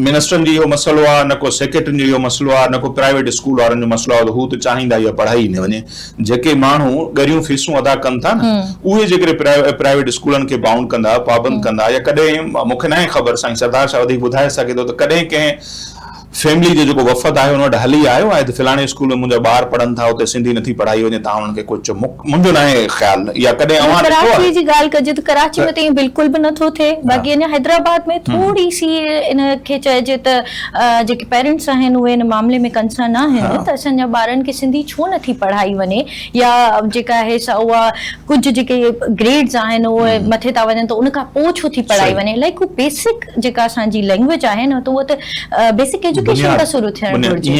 منسٽرن جو اهو مسئلو آهي نه ڪو سيڪريٽرين جو اهو مسئلو آهي نه ڪو پرائيويٽ اسڪول وارن جو مسئلو آهي ته هو ته چاهيندا اها پڙهائي نه وڃي جيڪي ماڻهو ڳريون فيسون ادا ڪن ٿا نه اهي جيڪڏهن پرائيويٽ اسڪولن کي بائونڊ ڪندا پابند ڪندا يا ڪڏهن مون کي ناهي خبر سائين سردار شاهه وڌيڪ ٻڌائي سگهي ٿو ته ڪڏهن ڪنهن فيملي جو جيڪو وفد آهي ان وٽ هلي آيو آهي ته فلاڻي اسڪول ۾ منهنجا ٻار پڙهن ٿا اتي سنڌي نٿي پڙهائي وڃي تان انهن کي ڪجهه منهنجو ناهي خيال يا ڪڏهن اوهان ڏٺو آهي. ڪراچي جي ڳالهه ڪجي ته ڪراچي ۾ ته ائين بلڪل به نٿو ٿئي باقي اڃا حيدرآباد ۾ ٿوري سي ان کي چئجي ته جيڪي پيرنٽس آهن اهي ان معاملي ۾ ڪنسرن آهن ته اسان جا ٻارن کي سنڌي ڇو نٿي پڙهائي وڃي يا جيڪا آهي سا اها ڪجهه جيڪي گريڊز آهن اهي مٿي ٿا وڃن ته ان کان پوء ڇو ٿي پڙهائي وڃي الاهي ڪو بيسڪ جيڪا اسان جي لينگويج آهي نه ته اها ته بيسڪ ايجوڪيشن کان شروع ٿيڻ گهرجي.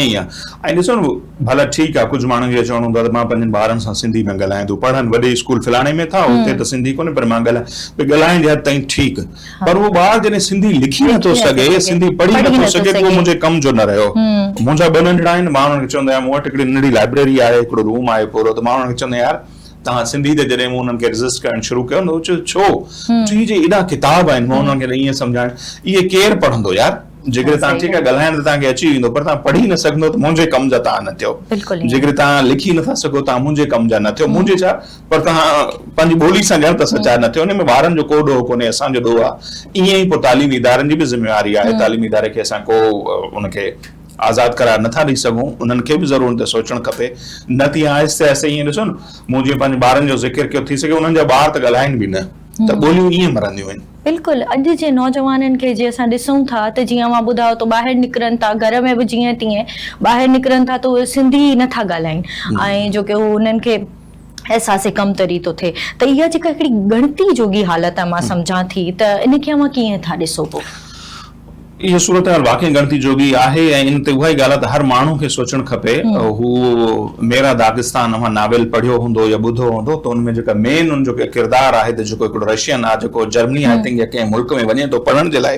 ائين ڏسو نه ڀلا ٺيڪ آ ڪجهه ماڻهن جو چوڻ هوندو آ ته مان پنهنجن ٻارن سان سنڌي نه ڳالهايان ٿو پڙهن وڏي اسڪول فلاڻي ۾ ٿا اتي ته سنڌي ڪونهي پر مان ڳالهايان ڀي ڳالهائڻ جي حد تائين ٺيڪ پر اهو ٻار جڏهن سنڌي لکي نه ٿو سگهي سنڌي پڙهي نه ٿو سگهي ته اهو منهنجي ڪم جو نه رهيو منهنجا ٻه ننڍڙا آهن مان انهن کي چوندو آهيان مون وٽ هڪڙي ننڍڙي لائبريري آهي هڪڙو روم آهي پورو ته مان انهن کي چوندو آهيان يار توهان سنڌي ته جڏهن مون انهن کي ريزسٽ ڪرڻ شروع ڪيو نه چيو ڇو چيو هي جي ايڏا ڪتاب آهن مان انهن کي ته ائين سمجهايان اهي ڪير پڙهندو يار جيڪڏهن توهان ٺيڪ آهي ڳالهائڻ ته توهان کي اچي ويندو پر توهان پڙهي نه سگهندو ته منهنجي ڪم جا توهان نه ٿيو جيڪڏهن توهان لکي نٿا سگهو توهان منهنجي ڪم جا نه ٿيو منهنجي ڇا پر توهان پنهنجي ٻولي سان ڄڻ ته سچا نه ٿيو ان ۾ ٻارن جو ڪو ڏوهه ڪونهي اسان جو ڏوهه آهي ائين ئي پوء تعليمي ادارن جي به ذميواري آهي تعليمي اداري کي اسان ڪو ان کي آزاد قرار نٿا ڏئي سگهون انهن کي به ضرور ان تي سوچڻ کپي نه ته ائين آهستي آهستي ائين ڏسو نه مون جيئن پنهنجي ٻارن جو ذڪر ڪيو ٿي سگهي انهن جا ٻار ته ڳالهائين به نه ته ٻوليون ائين مرنديون آهن. بلڪل اڄ جي نوجوانن کي جي اسان ڏسون ٿا ته جيئن اوهان ٻڌايو ته ٻاهر نڪرن ٿا گهر ۾ به جيئن تيئن ٻاهر نڪرن ٿا ته اهي سنڌي ئي نٿا ڳالهائين ۽ جو ڪي هو انهن کي احساس ڪمتري ٿو ٿئي ته اها جيڪا هڪڙي ڳڻتي جوڳي حالت آهي مان سمجهان ٿي ته ان کي اوهان ڪيئن ٿا ڏسو پوء. اها صورتحال واقعي ڳڻتي جوڳي آهي ۽ ان تي اها ئي ڳالهه ته هر ماڻهو کي سوچڻ کپي. هو ميرا داغستان اوهان ناول پڙهيو هوندو يا ٻڌو هوندو ته ان ۾ جيڪا مين ان جو ڪردار آهي ته جيڪو هڪڙو رشين آهي جيڪو جرمني آئي ٿنڪ يا ڪنهن ملڪ ۾ وڃي ٿو پڙهڻ جي لاء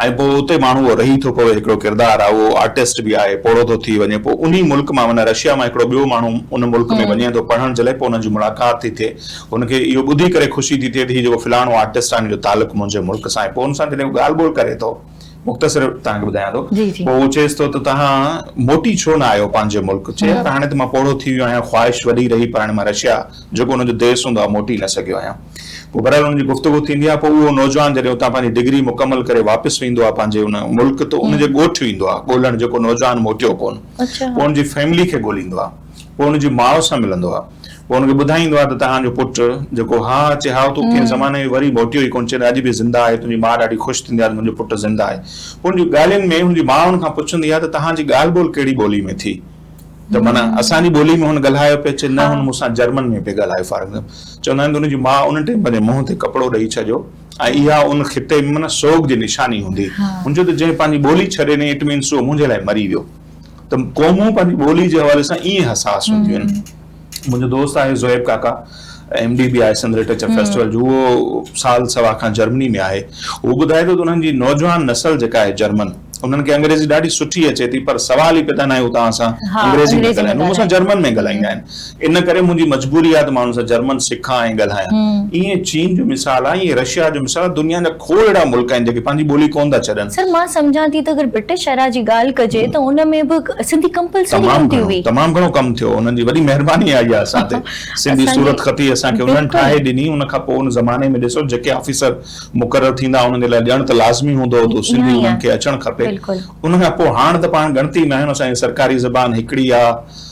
۽ پوء اتي ماڻهو اهو رهي ٿو پوي هڪڙو ڪردار آهي اهو آرٽسٽ به آهي پوڙهو ٿو ٿي وڃي پوء انهي ملڪ مان معنيٰ رشيا مان هڪڙو ٻيو ماڻهو ان ملڪ ۾ وڃي ٿو پڙهڻ جي لاء پوء انهن جي ملاقات ٿي ٿئي هن کي اهو ٻڌي ڪري خوشي ٿي ٿئي ته هي جيڪو فلاڻو آرٽسٽ آهي ان جو تعلق منهنجي ملڪ سان آهي پوء هن سان جڏهن هو ڳالهه ٻولهه ڪري ٿو مختصر توهان کي ٻڌايان ٿو پوء هو چئيس ٿو ته تهان موٽي ڇو نه آيو پنهنجي ملڪ چئي يار هاڻي ته مان پوڙهو ٿي ويو آهيان خواهش وڏي رهي پر هاڻي مان رشيا جيڪو ان جو ديس هوندو آهي موٽي نه سگهيو آهيان پوء بهرحال ان جي گفتگو ٿيندي آهي پوء اهو نوجوان جڏهن اتان پنهنجي ڊگري مڪمل ڪري واپس ويندو آهي پنهنجي ان ملڪ ته ان جي ڳوٺ ويندو آهي ڳولهڻ جيڪو نوجوان موٽيو ڪونه پوء ان جي فيملي کي ڳوليندو آهي پوء ان جي ماء سان ملندو آهي. پوء هن کي ٻڌائيندو آهي ته تهان جو پٽ جيڪو ها ها اچي هائو تون ڪنهن زماني ۾ وري موٽيو ئي ڪونه چيڏ اڄ به زنده آهي تنهنجي ماء ڏاڍي خوش ٿيندي آهي ته منهنجو پٽ زنده آهي پوء هن جي ڳالهين ۾ هن جي ماء هن کان پڇندي آهي ته تهان جي ڳالهه ٻولهه ڪهڙي ٻولي ۾ ٿي ته معنيٰ اسان جي ٻولي ۾ هن ڳالهايو پئي چي نه هن مون سان جرمن ۾ پئي ڳالهايو فار ايگزامپل چوندا آهن ته هن جي ماء ان ٽيم پنهنجي منهن تي ڪپڙو ڏئي ڇڏيو ۽ اها ان خطي ۾ معنيٰ سوڳ جي نشاني هوندي هن چيو ته جنهن پنهنجي ٻولي ڇڏي ڏني اٽ مينس هو منهنجي لاء مري ويو ته قومون پنهنجي ٻولي جي حوالي سان ائين حساس هونديون آهن. منهنجو دوست آهي زوئب ڪاڪا ايم ڊي به آهي سنڌ لٽريچر فيسٽيول جو اهو سال سوا کان جرمني ۾ آهي اهو ٻڌائي ٿو ته انهن جي نوجوان نسل جيڪا آهي جرمن انهن کي انگريزي ڏاڍي سٺي اچي ٿي پر سوال ئي پيدا ناهي هو توهان سان انگريزي ۾ ڳالهائين هو مون سان جرمن ۾ ڳالهائيندا آهن ان ڪري منهنجي مجبوري آهي ته ماڻهن سان جرمن سکان ۽ ڳالهايان. ائين چين جو مثال آهي، ائين رشيا جو مثال آهي، دنيا جا کوڙ اهڙا ملڪ آهن جيڪي پنهنجي ٻولي ڪونه ٿا ڇڏن. سر مان سمجهان ٿي ته اگر برٽش ايرا جي ڳالهه ڪجي ته ان ۾ به سنڌي ڪمپلسري هوندي هئي. تمام گهڻو، تمام گهڻو ڪم ٿيو، انهن جي وڏي مهرباني آهي اها اسان تي، سنڌي صورت خطي اسان کي انهن ٺاهي ڏني، ان کان پوء ان زماني ۾ ڏسو جيڪي آفيسر مقرر ٿيندا انهن جي لاء ڄڻ ته لازمي هوندو هو ته سنڌي انهن کي اچڻ کپي، ان کان پوء هاڻ ته پاڻ ڳڻتي ۾ آهيون، اسان جي سرڪاري زبان هڪڙي آهي.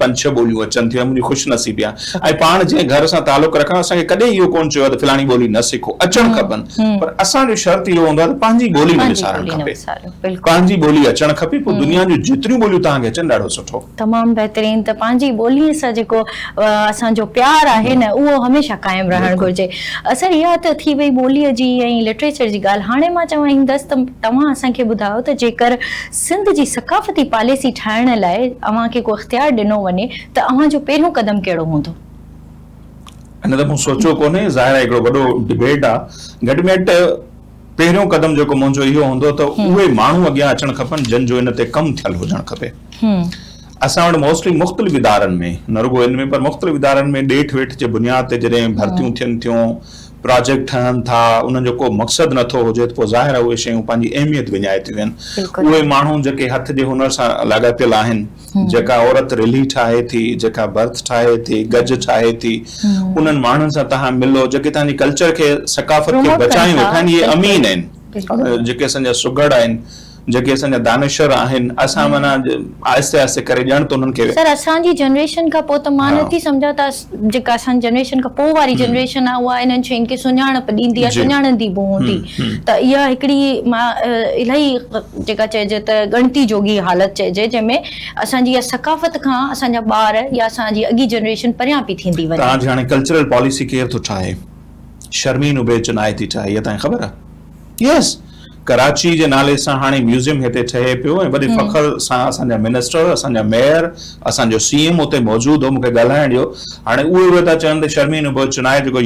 پنج ڇهه ٻوليون اچن ٿيون منهنجي خوش نصيبي آهي ۽ پاڻ جنهن گهر سان تعلق رکان اسان کي ڪڏهن اهو ڪونه چيو آهي ته فلاڻي ٻولي نه سکو اچڻ کپن پر اسان جو شرط اهو هوندو آهي ته پنهنجي ٻولي نه وسارڻ کپي پنهنجي ٻولي اچڻ کپي پوء دنيا جون جيتريون ٻوليون توهان کي اچن ڏاڍو سٺو. تمام بهترين ته پنهنجي ٻولي سان جيڪو اسان جو پيار آهي نه اهو هميشه قائم رهڻ گهرجي سر اها ته ٿي وئي ٻولي جي ۽ لٽريچر جي ڳالهه هاڻي مان چوائيندس ته توهان اسان کي ٻڌايو ته جيڪر سنڌ جي ثقافتي پاليسي ٺاهڻ لاء اوهان کي ڪو اختيار ڏنو وڃي ته اوهان جو پهريون قدم ڪهڙو هوندو؟ ان ته مون سوچيو ڪونهي، ظاهر آهي هڪڙو وڏو ڊبيٽ آ. گهٽ ۾ گهٽ پهريون قدم جيڪو منهنجو اهو هوندو ته اهي ماڻهو اڳيان اچڻ کپن جن جو ان تي ڪم ٿيل هجڻ کپي. اسان وٽ موسٽلي مختلف ادارن ۾ نه رڳو ان ۾ پر مختلف ادارن ۾ ڏيٺ ويٺ جي بنياد تي جڏهن ڀرتيون ٿين ٿيون، پراجيڪٽ ٺهن ٿا انهن جو ڪو مقصد نه ٿو هجي ته پوء ظاهر آهي اهي شيون پنهنجي اهميت وڃائي ٿيون ويهن. اهي ماڻهو جيڪي هٿ جي هنر سان لاڳاپيل آهن، جيڪا عورت رلهي ٺاهي ٿي، جيڪا ڀرت ٺاهي ٿي، گج ٺاهي ٿي، انهن ماڻهن سان توهان ملو جيڪي توهان جي ڪلچر کي ثقافت کي بچايون ويٺا آهن. اهي امين آهن جيڪي اسان جا سگهڙ آهن. جيڪي اسان جا دانشور آهن اسان معنيٰ آهستي آهستي ڪري ڄڻ ته انهن کي. سر اسان جي جنريشن کان پوء ته مان نه ٿي سمجهان ته جيڪا اسان جي جنريشن کان پوء واري جنريشن آهي اها انهن شين کي سڃاڻپ ڏيندي يا سڃاڻندي به هوندي ته اها هڪڙي مان الائي جيڪا چئجي ته ڳڻتي جوڳي حالت چئجي جنهن ۾ اسان جي اها ثقافت کان اسان جا ٻار يا اسان جي اڳي جنريشن پريان پئي ٿيندي وڃي. توهان جي هاڻي ڪلچرل پاليسي ڪير ٿو ٺاهي؟ شرمين عبيد جو ناهي ٿي ٺاهي اها توهان کي خبر آهي؟ يس ڪراچي جي نالي سان هاڻي ميوزيم هتي ٺهي پيو ۽ وڏي فخر سان اسان جا منسٽر اسان جا ميئر اسان جو سي ايم اتي موجود هو مون کي ڳالهائڻ ڏيو هاڻي اهي اهي ٿا چون ته شرمين ابو چنائي جيڪو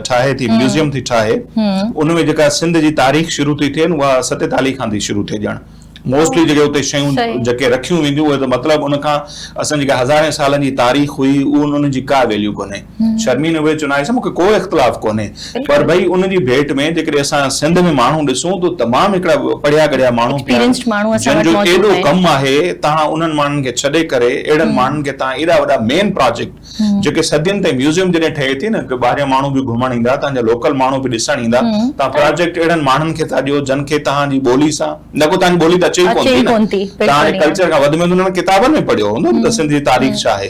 ٺاهي ٿي ميوزيم ٿي ٺاهي ان ۾ جيڪا سنڌ جي تاريخ شروع ٿي ٿئي اها ستيتالي کان ٿي شروع ٿئي ڄڻ موسٽلي جيڪي اتي شيون جيڪي رکيون وينديون اهي ته مطلب ان کان اسان جيڪا هزارين سالن جي تاريخ هئي ان جي ڪا ويليو ڪونهي شرمين اهي چنائي سان مون کي ڪو اختلاف ڪونهي پر ڀئي ان جي ڀيٽ ۾ جيڪڏهن اسان سنڌ ۾ ماڻهو ڏسون ته تمام هڪڙا پڙهيا ڳڙهيا ماڻهو پيا آهن جن جو ايڏو ڪم آهي تان انهن ماڻهن کي ڇڏي ڪري اهڙن ماڻهن کي تان ايڏا وڏا مين پراجيڪٽ جيڪي صدين تائين ميوزيم جڏهن ٺهي ٿي نه ڪي ٻاهريان ماڻهو به گهمڻ ايندا تان جا لوڪل ماڻهو به ڏسڻ ايندا تان پراجيڪٽ اهڙن ماڻهن کي ٿا ڏيو جن کي تان جي ٻولي سان نه ڪو تان جي ٻولي ته اچي ئي ڪون ٿي نه تان جي ڪلچر کان وڌ ميند انهن ڪتابن ۾ پڙهيو هوندو نه ته سنڌ جي تاريخ ڇا آهي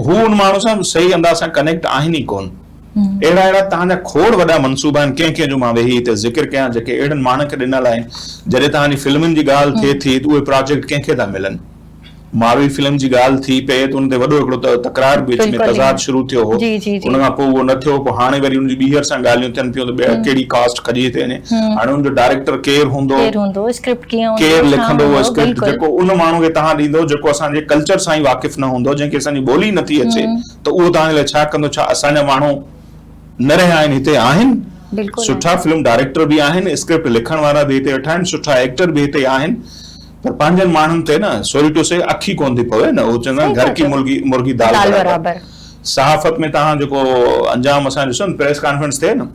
هو ان ماڻهو سان صحيح انداز سان ڪنيڪٽ آهن ئي ڪون اهڙا اهڙا تان جا کوڙ وڏا منصوبا آهن ڪنهن ڪنهن جو مان ويهي هتي ذڪر ڪيان جيڪي اهڙن ماڻهن کي ڏنل آهن جڏهن تان جي فلمن جي ڳالهه ٿئي ٿي ته اهي پراجيڪٽ ڪنهن کي ٿا ملن. ماروي فلم جي ڳالهه ٿي پئي ته ان تي وڏو هڪڙو تڪرار به وچ ۾ تضاد شروع ٿيو هو ان کان پوء اهو نه ٿيو پوء هاڻي وري ان جي ٻيهر سان ڳالهيون ٿين پيون ته ٻيهر ڪهڙي ڪاسٽ کڄي ٿي وڃي هاڻي ان جو ڊائريڪٽر ڪير هوندو ڪير لکندو اهو اسڪرپٽ جيڪو ان ماڻهو کي توهان ڏيندو جيڪو اسان جي ڪلچر سان ئي واقف نه هوندو جنهن کي اسان جي ٻولي نه ٿي اچي ته اهو توهان جي لاء ڇا ڪندو ڇا اسان جا ماڻهو نه رهيا آهن هتي آهن سٺا فلم ڊائريڪٽر به آهن اسڪرپٽ لکڻ وارا به هتي ويٺا آهن سٺا ايڪٽر به هتي آهن پر پنهنجن ماڻهن تي نه سوري ٽو سي اک ئي ڪونه ٿي پوي نه اهو چوندا آهن گهر ڪي مرغي دال برابر صحافت ۾ توهان جيڪو انجام اسان ڏسيو نه پريس ڪانفرنس ٿئي نه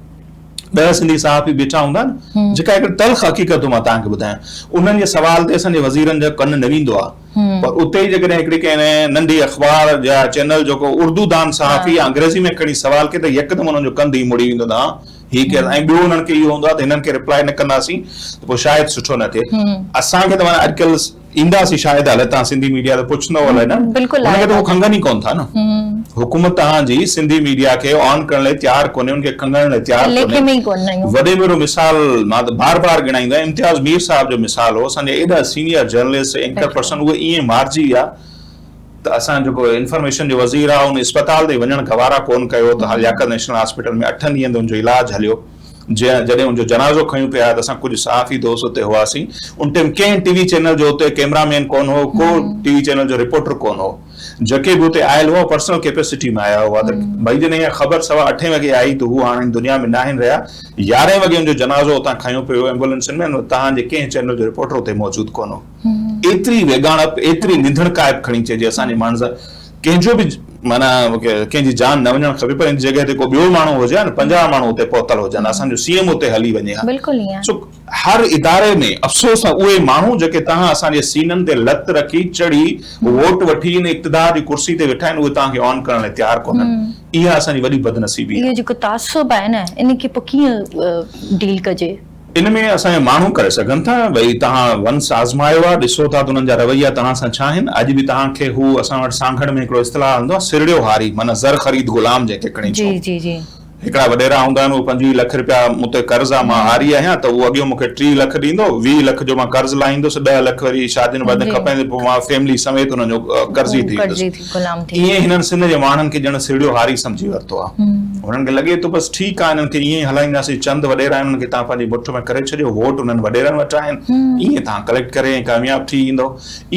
ڏهه سنڌي صحافي بيٺا هوندا آهن جيڪا هڪڙي تلخ حقيقت مان توهان کي ٻڌايان انهن جي سوال تي اسان جي وزيرن جو ڪن نه ويندو آهي پر اتي ئي جيڪڏهن هڪڙي ڪنهن ننڍي اخبار يا چينل جيڪو اردو دان صحافي يا انگريزي ۾ کڻي سوال ڪري ته يڪدم انهن جو ڪنڌ ئي مڙي ويندو نه هي ڪيل ۽ ٻيو انهن کي اهو هوندو آهي ته هنن کي ريپلائي نه ڪنداسين ته پوء شايد سٺو نه ٿئي اسان کي ته معنيٰ اڄڪلهه اينداسين شايد هلي تان سنڌي ميڊيا ته پڇندو هلي نه هن کي ته هو کنگهن ئي ڪونه ٿا نه حڪومت تهان جي سنڌي ميڊيا کي آن ڪرڻ لاء تيار ڪونهي ان کي کنگهڻ لاء تيار ڪونهي وڏي ۾ وڏو مثال مان ته بار بار ڳڻائيندو آهيان امتياز مير صاحب جو مثال هو اسان جا ايڏا سينيئر جرنلسٽ اينڪر پرسن اهي ائين مارجي ويا ته اسان جيڪو انفارميشن جو وزير آ ان اسپتال تائين وڃڻ گوارا ڪون ڪيو ته لياقت نيشنل هاسپيٽل ۾ اٺن ڏينهن تائين ان جو علاج هليو جنهن جڏهن ان جو جنازو کنيون پيا ته اسان ڪجهه صحافي دوست اتي هئاسين ان ٽيم ڪنهن ٽي وي چينل جو اتي ڪيمرا مين ڪون هو ڪو ٽي وي چينل جو رپورٽر ڪون هو جيڪي به اتي آيل هئا پرسنل ڪيپيسٽي ۾ آيا هئا ته ڀئي جڏهن اها خبر سوا اٺين وڳي آئي ته هو هاڻ هن دنيا ۾ ناهن رهيا يارهين وڳي ان جو جنازو اتان کنيو پيو ايمبولنسن ۾ ان وقت توهان جي ڪنهن چينل جو رپورٽر اتي موجود ڪون هو. ايتري ويڳاڻپ، ايتري نينڌڻ ڪائپ کڻي چئجي اسان جي ماڻهن سان ڪنهن جو به معنيٰ ڪنهن جي جان نه وڃڻ کپي پر ان جڳهه تي ڪو ٻيو ماڻهو هجي ها نه پنجاهه ماڻهو اتي پهتل هجن ها اسان جو سي ايم اتي هلي وڃي ها سو هر اداري ۾ افسوس ته اهي ماڻهو جيڪي توهان اسان جي سينن تي لت رکي چڙهي ووٽ وٺي ان اقتدار جي ڪرسي تي ويٺا آهن اهي توهان کي آن ڪرڻ لاء تيار ڪونهن اها اسان جي وڏي بدنصيبي آهي. اهو جيڪو تعصب آهي نه ان کي پوء ڪيئن ڊيل ڪجي. ان ۾ اسان جا ماڻهو ڪري سگهن ٿا. ڀئي توهان ونس آزمايو آهي، ڏسو ٿا ته انهن جا رويا توهان سان ڇا آهن. اڄ به توهان کي هو اسان وٽ سانگهڙ ۾ هڪڙو اصطلاح هلندو آهي سرڙيو هاري معنيٰ زر خريد غلام جنهن کي کڻي ڇو. هڪڙا وڏيرا هوندا آهن اهي پنجويهه لک رپيا مون تي قرض آهي مان هاري آهيان ته اهو اڳيئون مون کي ٽيهه لک ڏيندو، ويهه لک جو مان قرض لاهيندس، ڏهه لک وري شادين وادين کپائيندس پوء مان فيملي سميت انهن جو قرضي ٿي ويندس. غلام ٿي ويو. ائين هنن سنڌ جي واڻن کي ڄڻ سهيڙيو هاري سمجهي ورتو آ. هنن کي لڳي ٿو بس ٺيڪ آ هنن کي ائين ئي هلائينداسين چند وڏيرا آهن انهن کي تهان پنهنجي مٺ ۾ ڪري ڇڏيو ووٽ انهن وڏيرن وٽ آهن ائين تهان ڪليڪٽ ڪري ۽ ڪامياب ٿي ايندؤ.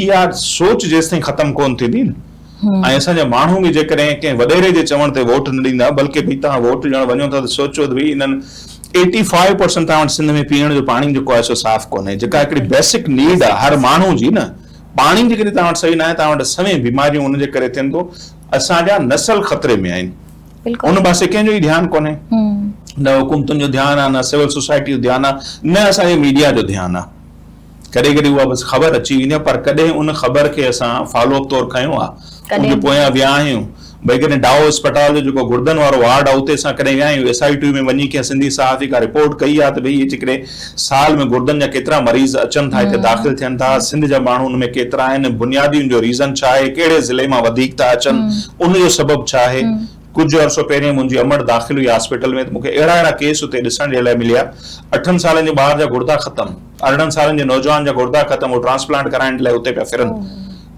اها سوچ جيستائين ختم ڪون ٿيندي نه ۽ اسان جا ماڻهو به جيڪڏهن ڪنهن وڏيري جي چوڻ تي ووٽ نه ڏيندا بلڪه ڀئي تهان ووٽ ڏيڻ وڃو ٿا ته سوچو ته ڀئي انهن ايٽي فائيو پرسنٽ تهان وٽ سنڌ ۾ پيئڻ جو پاڻي جيڪو آهي سو صاف ڪونهي جيڪا هڪڙي بيسڪ نيڊ آ هر ماڻهو جي نه پاڻي جيڪڏهن توهان وٽ صحيح ناهي توهان وٽ سوين بيماريون ان جي ڪري ٿين ٿو اسان جا نسل خطري ۾ آهن ان پاسي ڪنهن جو ئي ڌيان ڪونهي نه حڪومتن جو ڌيان آهي نه سول سوسائٽي جو ڌيان آهي نه اسان جي ميڊيا جو ڌيان آهي ڪڏهن ڪڏهن اها بس خبر اچي ويندي آهي پر ڪڏهن ان خبر کي اسان فالو اپ طور کنيو آهي ان جي پويان ويا آهيون ڀئي ڪڏهن ڊائو اسپتال جو جيڪو گردن وارو وارڊ آهي اتي اسان ڪڏهن ويا آهيون ايس آئي ٽي ۾ وڃي ڪنهن سنڌي صحافي ڪا رپورٽ ڪئي آهي ته ڀئي هي جيڪڏهن سال ۾ گردن جا ڪيترا مريض اچن ٿا هتي داخل ٿين ٿا سنڌ جا ماڻهو ان ۾ ڪيترا آهن بنيادي ان جو ريزن ڇا آهي ڪهڙي ضلعي مان وڌيڪ ٿا اچن ان جو سبب ڇا آهي ڪجهه عرصو پهرين منهنجي امڙ داخل هئي هاسپيٽل ۾ ته مونکي اهڙا اهڙا ڪيس اتي ڏسڻ جي لاء مليا اٺن سالن جي ٻار جا گردا ختم ارڙهن سالن جي نوجوان جا گردا ختم هو ٽرانسپلانٽ ڪرائڻ جي لاء اتي پيا ڦرن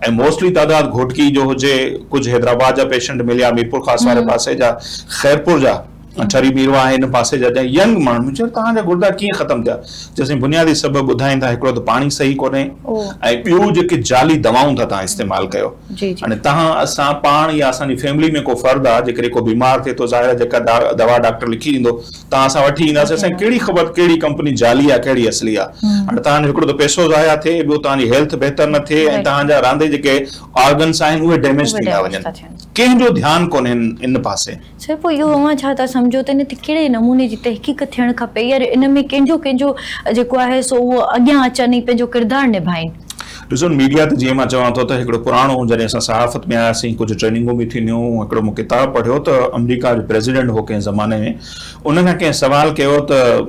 ۽ موسٽلي تعداد گهوٽڪي جو هجي، ڪجهه حيدرآباد جا پيشنٽ مليا، ميرپورخاص واري پاسي جا، خيرپور جا، ٺري ميرواهه هن پاسي جا جا ينگ ماڻهو، مون چيو توهان جا گردا ڪيئن ختم ٿيا؟ چيو سائين بنيادي سبب ٻڌائين ٿا هڪڙو ته پاڻي صحيح ڪونهي ۽ ٻيو جيڪي جعلي دوائون ٿا توهان استعمال ڪيو هاڻي توهان اسان پاڻ يا اسان جي فيملي ۾ ڪو فرد آ جيڪڏهن ڪو بيمار ٿئي ٿو ظاهر آ جيڪا دوا ڊاڪٽر لکي ڏيندو توهان اسان وٺي اينداسين اسان کي ڪهڙي خبر ته ڪهڙي ڪمپني جعلي آهي ڪهڙي اصلي آهي هاڻي توهان جو هڪڙو ته پئسو ضايع ٿئي ٻيو توهان جي هيلٿ بهتر نه ٿئي ۽ توهان جا رهندي جيڪي آرگنس آهن اهي ڊيميج ٿيندا وڃن ڪنهن جو ڌيان ڪونهي ان پاسي. سر پوء اهو اوهان ڇا ٿا سمجهو ته ان تي ڪهڙي نموني جي تحقيق ٿيڻ کپي يا ان ۾ ڪنهن جو ڪنهن جو جيڪو آهي سو اهو اڳيان اچن ۽ پنهنجو ڪردار نڀائين. ڏسو ميڊيا تي جيئن مان چوان ٿو ته هڪڙو پراڻو جڏهن اسان صحافت ۾ آياسين ڪجهه ٽريننگون به ٿينديون هڪڙو مون ڪتاب پڙهيو ته آمريڪا جو پريزيڊنٽ هو ڪنهن زماني ۾ ان کان ڪنهن سوال ڪيو ته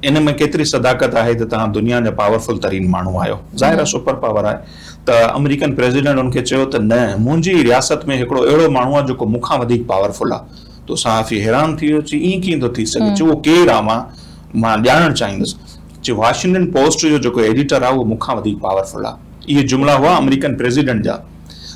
ان ۾ ڪيتري صداقت آهي ته تهان دنيا جا پاورفل ترين ماڻهو آهيو ظاهر آهي سپر پاور آهي ته آمريڪن پريزيڊنٽ ان کي چيو ته نه منهنجي ئي رياست ۾ هڪڙو اهڙو ماڻهو آهي جيڪو مون کان وڌيڪ پاورفل آهي تو صحافي حيران ٿي ويو چي ايئن ڪيئن ٿو ٿي سگهي چي اهو ڪير آهي مان مان ڄاڻڻ چاهيندس جي واشنگٽن پوسٽ جو جيڪو ايڊيٽر آ اهو مون کان وڌيڪ پاور فل آ. اهي جملا هئا آمريڪن پريزيڊنٽ جا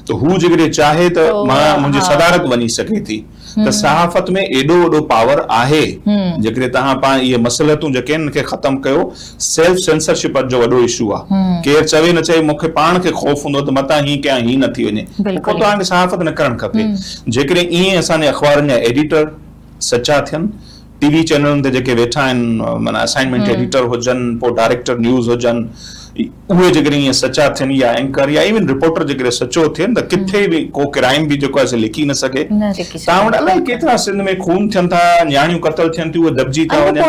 ته هو جيڪڏهن چاهي ته مان منهنجي صدارت وڃي سگهي ٿي ته صحافت ۾ ايڏو وڏو پاور آهي جيڪڏهن توهان پاڻ اهي مصلحتون جيڪي آهن ان کي ختم ڪيو سيلف سينسرشپ اڄ جو وڏو اشو آ ڪير چوي نه چوي مون کي پاڻ کي خوف هوندو آ ته متان هي ڪيان هي نه ٿي وڃي پوء توهان کي صحافت نه ڪرڻ کپي جيڪڏهن ائين اسان جي اخبارن جا ايڊيٽر سچا ٿين ٽي وي چينلن تي جيڪي ويٺا آهن معنيٰ اسائنمينٽ ايڊيٽر هجن پوء ڊائريڪٽر نيوز هجن اهي جيڪڏهن ائين سچا ٿين يا اينڪر يا ايون رپورٽر جيڪڏهن سچو ٿين ته ڪٿي به ڪو ڪرائيم به جيڪو آهي سو لڪي نه سگهي تان وٽ الائي ڪيترا سنڌ ۾ خون ٿين ٿا نياڻيون قتل ٿين ٿيون اهي دٻجي ٿا وڃن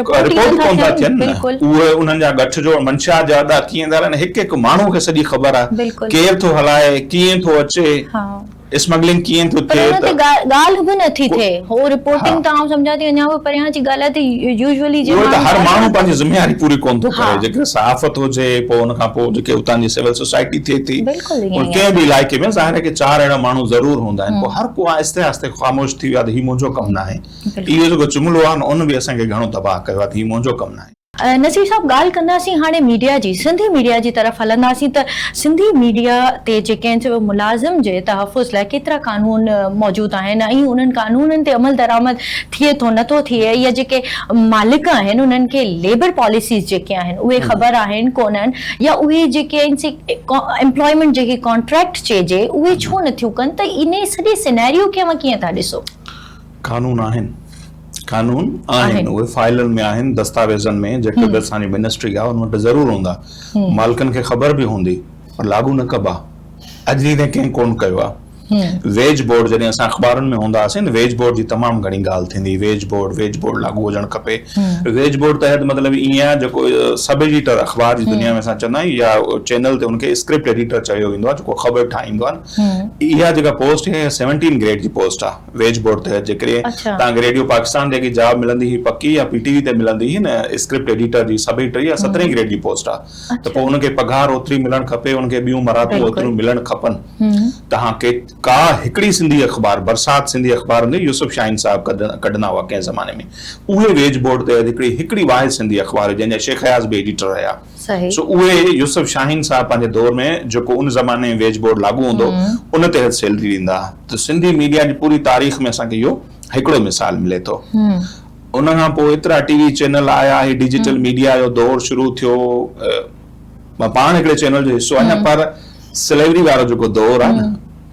رپورٽ ئي ڪون ٿا ٿين نه اهي انهن جا ڳٺ جوڙ منشيات جا اڏا ٿي ويندا آهن هڪ هڪ ماڻهو کي سڄي خبر آهي ڪير ٿو هلائي ڪيئن ٿو اچي اسمگلنگ ڪيئن ٿو ٿئي ته. پر ان تي ڳالهه به نه ٿي ٿئي. هو رپورٽنگ ته آئون سمجهان ٿي اڃا به پريان جي ڳالهه آهي ته يوزولي جي ماڻهو. اهو ته هر ماڻهو پنهنجي ذميواري پوري ڪونه ٿو ڪري جيڪڏهن صحافت هجي پوء ان کان پوء جيڪي اتان جي سول سوسائٽي ٿئي ٿي ۽ ڪنهن به علائقي ۾ ظاهر آهي ڪي چار اهڙا ماڻهو ضرور هوندا آهن پوء هر ڪو آهستي آهستي خاموش ٿي ويو آهي ته هي منهنجو ڪم ناهي اهو جيڪو جملو آهي نه ان به اسان کي گهڻو تباهه ڪيو آهي ته هي منهنجو ڪم ناهي. نصير صاحب ڳالهه ڪنداسين هاڻي ميڊيا جي سنڌي ميڊيا جي طرف هلنداسين ته سنڌي ميڊيا تي جي ڪنهن چيو ملازم جي تحفظ لاء ڪيترا قانون موجود آهن ۽ انهن قانونن تي عمل درآمد ٿئي ٿو نه ٿو ٿئي يا جيڪي مالڪ آهن انهن کي ليبر پاليسيز جيڪي آهن اهي خبر آهن ڪونهن يا اهي جيڪي آهن سي امپلائمينٽ جنهن کي ڪانٽريڪٽ چئجي اهي ڇو نه ٿيون ڪن ته انهي سڄي سيناريو کي اوهان ڪيئن ٿا ڏسو؟ قانون آهن، قانون آهن، اهي فائلن ۾ آهن، دستاويزن ۾ جيڪي به اسان جي منسٽري آهي ان وٽ ضرور هوندا، مالڪن کي خبر به هوندي پر لاڳو نه ڪبا، اڄ ڏينهن تائين ڪنهن ڪونه ڪيو آهي. ويج بورڊ جڏهن اسان اخبارن ۾ هوندا هئاسين ته ويج بورڊ جي تمام گهڻي ڳالهه ٿيندي هئي، ويج بورڊ، ويج بورڊ لاڳو هجڻ کپي، ويج بورڊ تحت مطلب ائين آهي جيڪو سب ايڊيٽر اخبار جي دنيا ۾ اسان چوندا آهيون يا چينل تي ان کي اسڪرپٽ ايڊيٽر چيو ويندو آهي جيڪو خبر ٺاهيندو آهي، اها جيڪا پوسٽ آهي اها سيونٽين گريڊ جي پوسٽ آهي. ويج بورڊ تحت جيڪڏهن اڇا. توهان کي ريڊيو پاڪستان تي ڪي جاب ملندي هئي پڪي يا پي ٽي وي تي ملندي هئي نه اسڪرپٽ ايڊيٽر جي سڀئي ٽي يا سترهن گريڊ جي پوسٽ آ ته پوء اڇا. ان کي پگهار اوتري ملڻ کپي ان کي ٻيون مراعتون بلڪل. اوتريون ملڻ کپن هوم. توهان کي ڪا هڪڙي سنڌي اخبار برسات سنڌي اخبار هوندي هئي يوسف شاهين صاحب ڪڍن ڪڍندا هئا ڪنهن زماني ۾ اهي ويج بورڊ تحت هڪڙي هڪڙي واحد سنڌي اخبار هئي جنهن جا شيخ اياز به ايڊيٽر رهيا صحيح. سو اهي يوسف شاهين صاحب پنهنجي دور ۾ جيڪو ان زماني ويج بورڊ لاڳو هوندو ان تحت سيلري ڏيندا ته سنڌي ميڊيا جي پوري تاريخ ۾ اسان کي اهو هڪڙو مثال ملي ٿو ان کان پوء ايترا ٽي وي چينل آيا هي ڊجيٽل ميڊيا جو دور شروع ٿيو مان پاڻ هڪڙي چينل جو حصو آهيان پر سليوري وارو جيڪو دور آهي نه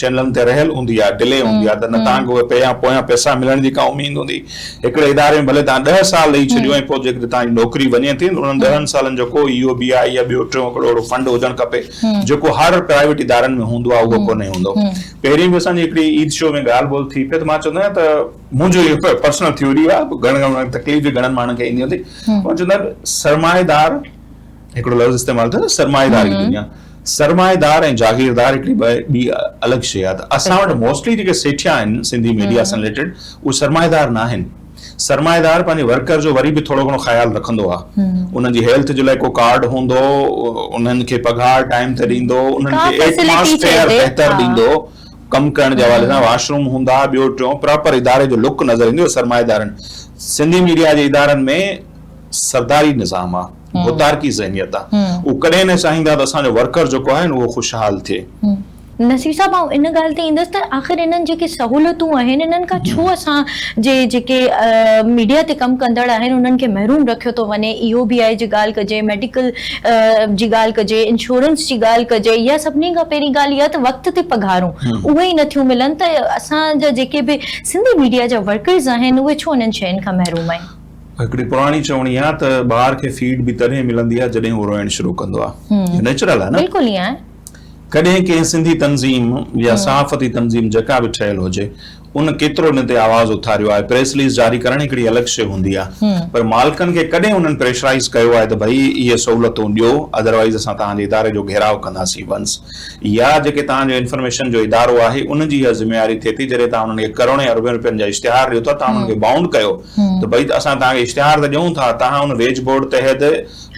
چئنلن تي رهيل هوندي آ، ڊلي هوندي آ ته نه توهان کي اهي پي يا پويان پئسا ملڻ جي ڪا اميد هوندي. هڪڙي اداري ۾ ڀلي توهان ڏهه سال رهي ڇڏيو ۽ پوء جيڪڏهن توهان جي نوڪري وڃي ٿي ته انهن ڏهن سالن جو ڪو اي او بي آء يا ٻيو ٽيون هڪڙو اهڙو فنڊ هجڻ کپي جيڪو هر پرائيويٽ ادارن ۾ هوندو آ اهو ڪونهي هوندو. پهرين به اسان جي هڪڙي عيد شو ۾ ڳالهه ٻولهه ٿي پئي ته مان چوندو آهيان ته منهنجو اهو هڪ پرسنل ٿيوري آ، گهڻن ماڻهن کي تڪليف به گهڻن ماڻهن کي ايندي هوندي، مان چوندو آهيان ته سرمائيدار، هڪڙو لفظ استعمال ٿيو نه سرمائيدار جي دنيا سرمائيدار ۽ جاگيردار هڪڙي ٻي الڳ شيء آهي ته اسان وٽ موسٽلي جيڪي سيٺيا آهن سنڌي ميڊيا سان رليٽيڊ اهي سرمائيدار نه آهن سرمائيدار پنهنجي ورڪر جو وري به ٿورو گهڻو خيال رکندو آهي انهن جي هيلٿ جي لاء ڪو ڪارڊ هوندو انهن کي پگهار ٽائيم تي ڏيندو انهن کي ايٽماسفيئر بهتر ڏيندو ڪم ڪرڻ جي حوالي سان واش روم هوندا ٻيو ٽيون پراپر اداري جو لڪ نظر ايندو سرمائيدارن سنڌي ميڊيا جي ادارن ۾ سرداري نظام آهي ڀوتارڪي ذهنيت آ هو ڪڏهن نه چاهيندا ته اسان جو ورڪر جيڪو آهي نه اهو خوشحال ٿئي. نصير صاحب آئون ان ڳالهه تي ايندس ته آخر انهن جيڪي سهولتون آهن انهن کان ڇو اسان جي جيڪي ميڊيا تي ڪم ڪندڙ آهن انهن کي محروم رکيو ٿو وڃي ايو بي آئي جي ڳالهه ڪجي ميڊيڪل جي ڳالهه ڪجي انشورنس جي ڳالهه ڪجي يا سڀني کان پهرين ڳالهه اها ته وقت تي پگهارون اهي ئي نٿيون ملن ته اسان جا جيڪي به سنڌي ميڊيا جا ورڪرز آهن اهي ڇو انهن شين کان محروم آهن. هڪڙي پراڻي چوڻي آهي ته ٻار کي فيڊ به تڏهن ملندي آهي جڏهن هو روئڻ شروع ڪندو آهي نيچرل آهي نه بلڪل ائين آهي ڪڏهن ڪنهن سنڌي تنظيم يا صحافتي تنظيم جيڪا به ٺهيل هجي ان ڪيترو ان تي آواز اٿاريو آهي پريس رليز جاري ڪرڻ هڪڙي الڳ شي هوندي آهي پر مالڪن کي ڪڏهن انهن پريشرائيز ڪيو آهي ته ڀئي اهي سهولتون ڏيو اڌروائيز اسان توهان جي اداري جو گهيراء ڪنداسين ونس يا جيڪي توهان جو انفرميشن جو ادارو آهي ان جي اها ذميواري ٿئي ٿي جڏهن توهان انهن کي ڪروڙين اربين روپين جا اشتهار ڏيو ٿا توهان انهن کي بائونڊ ڪيو ته ڀئي اسان توهان کي اشتهار ته ڏيون ٿا، توهان ان ويج بورڊ تحت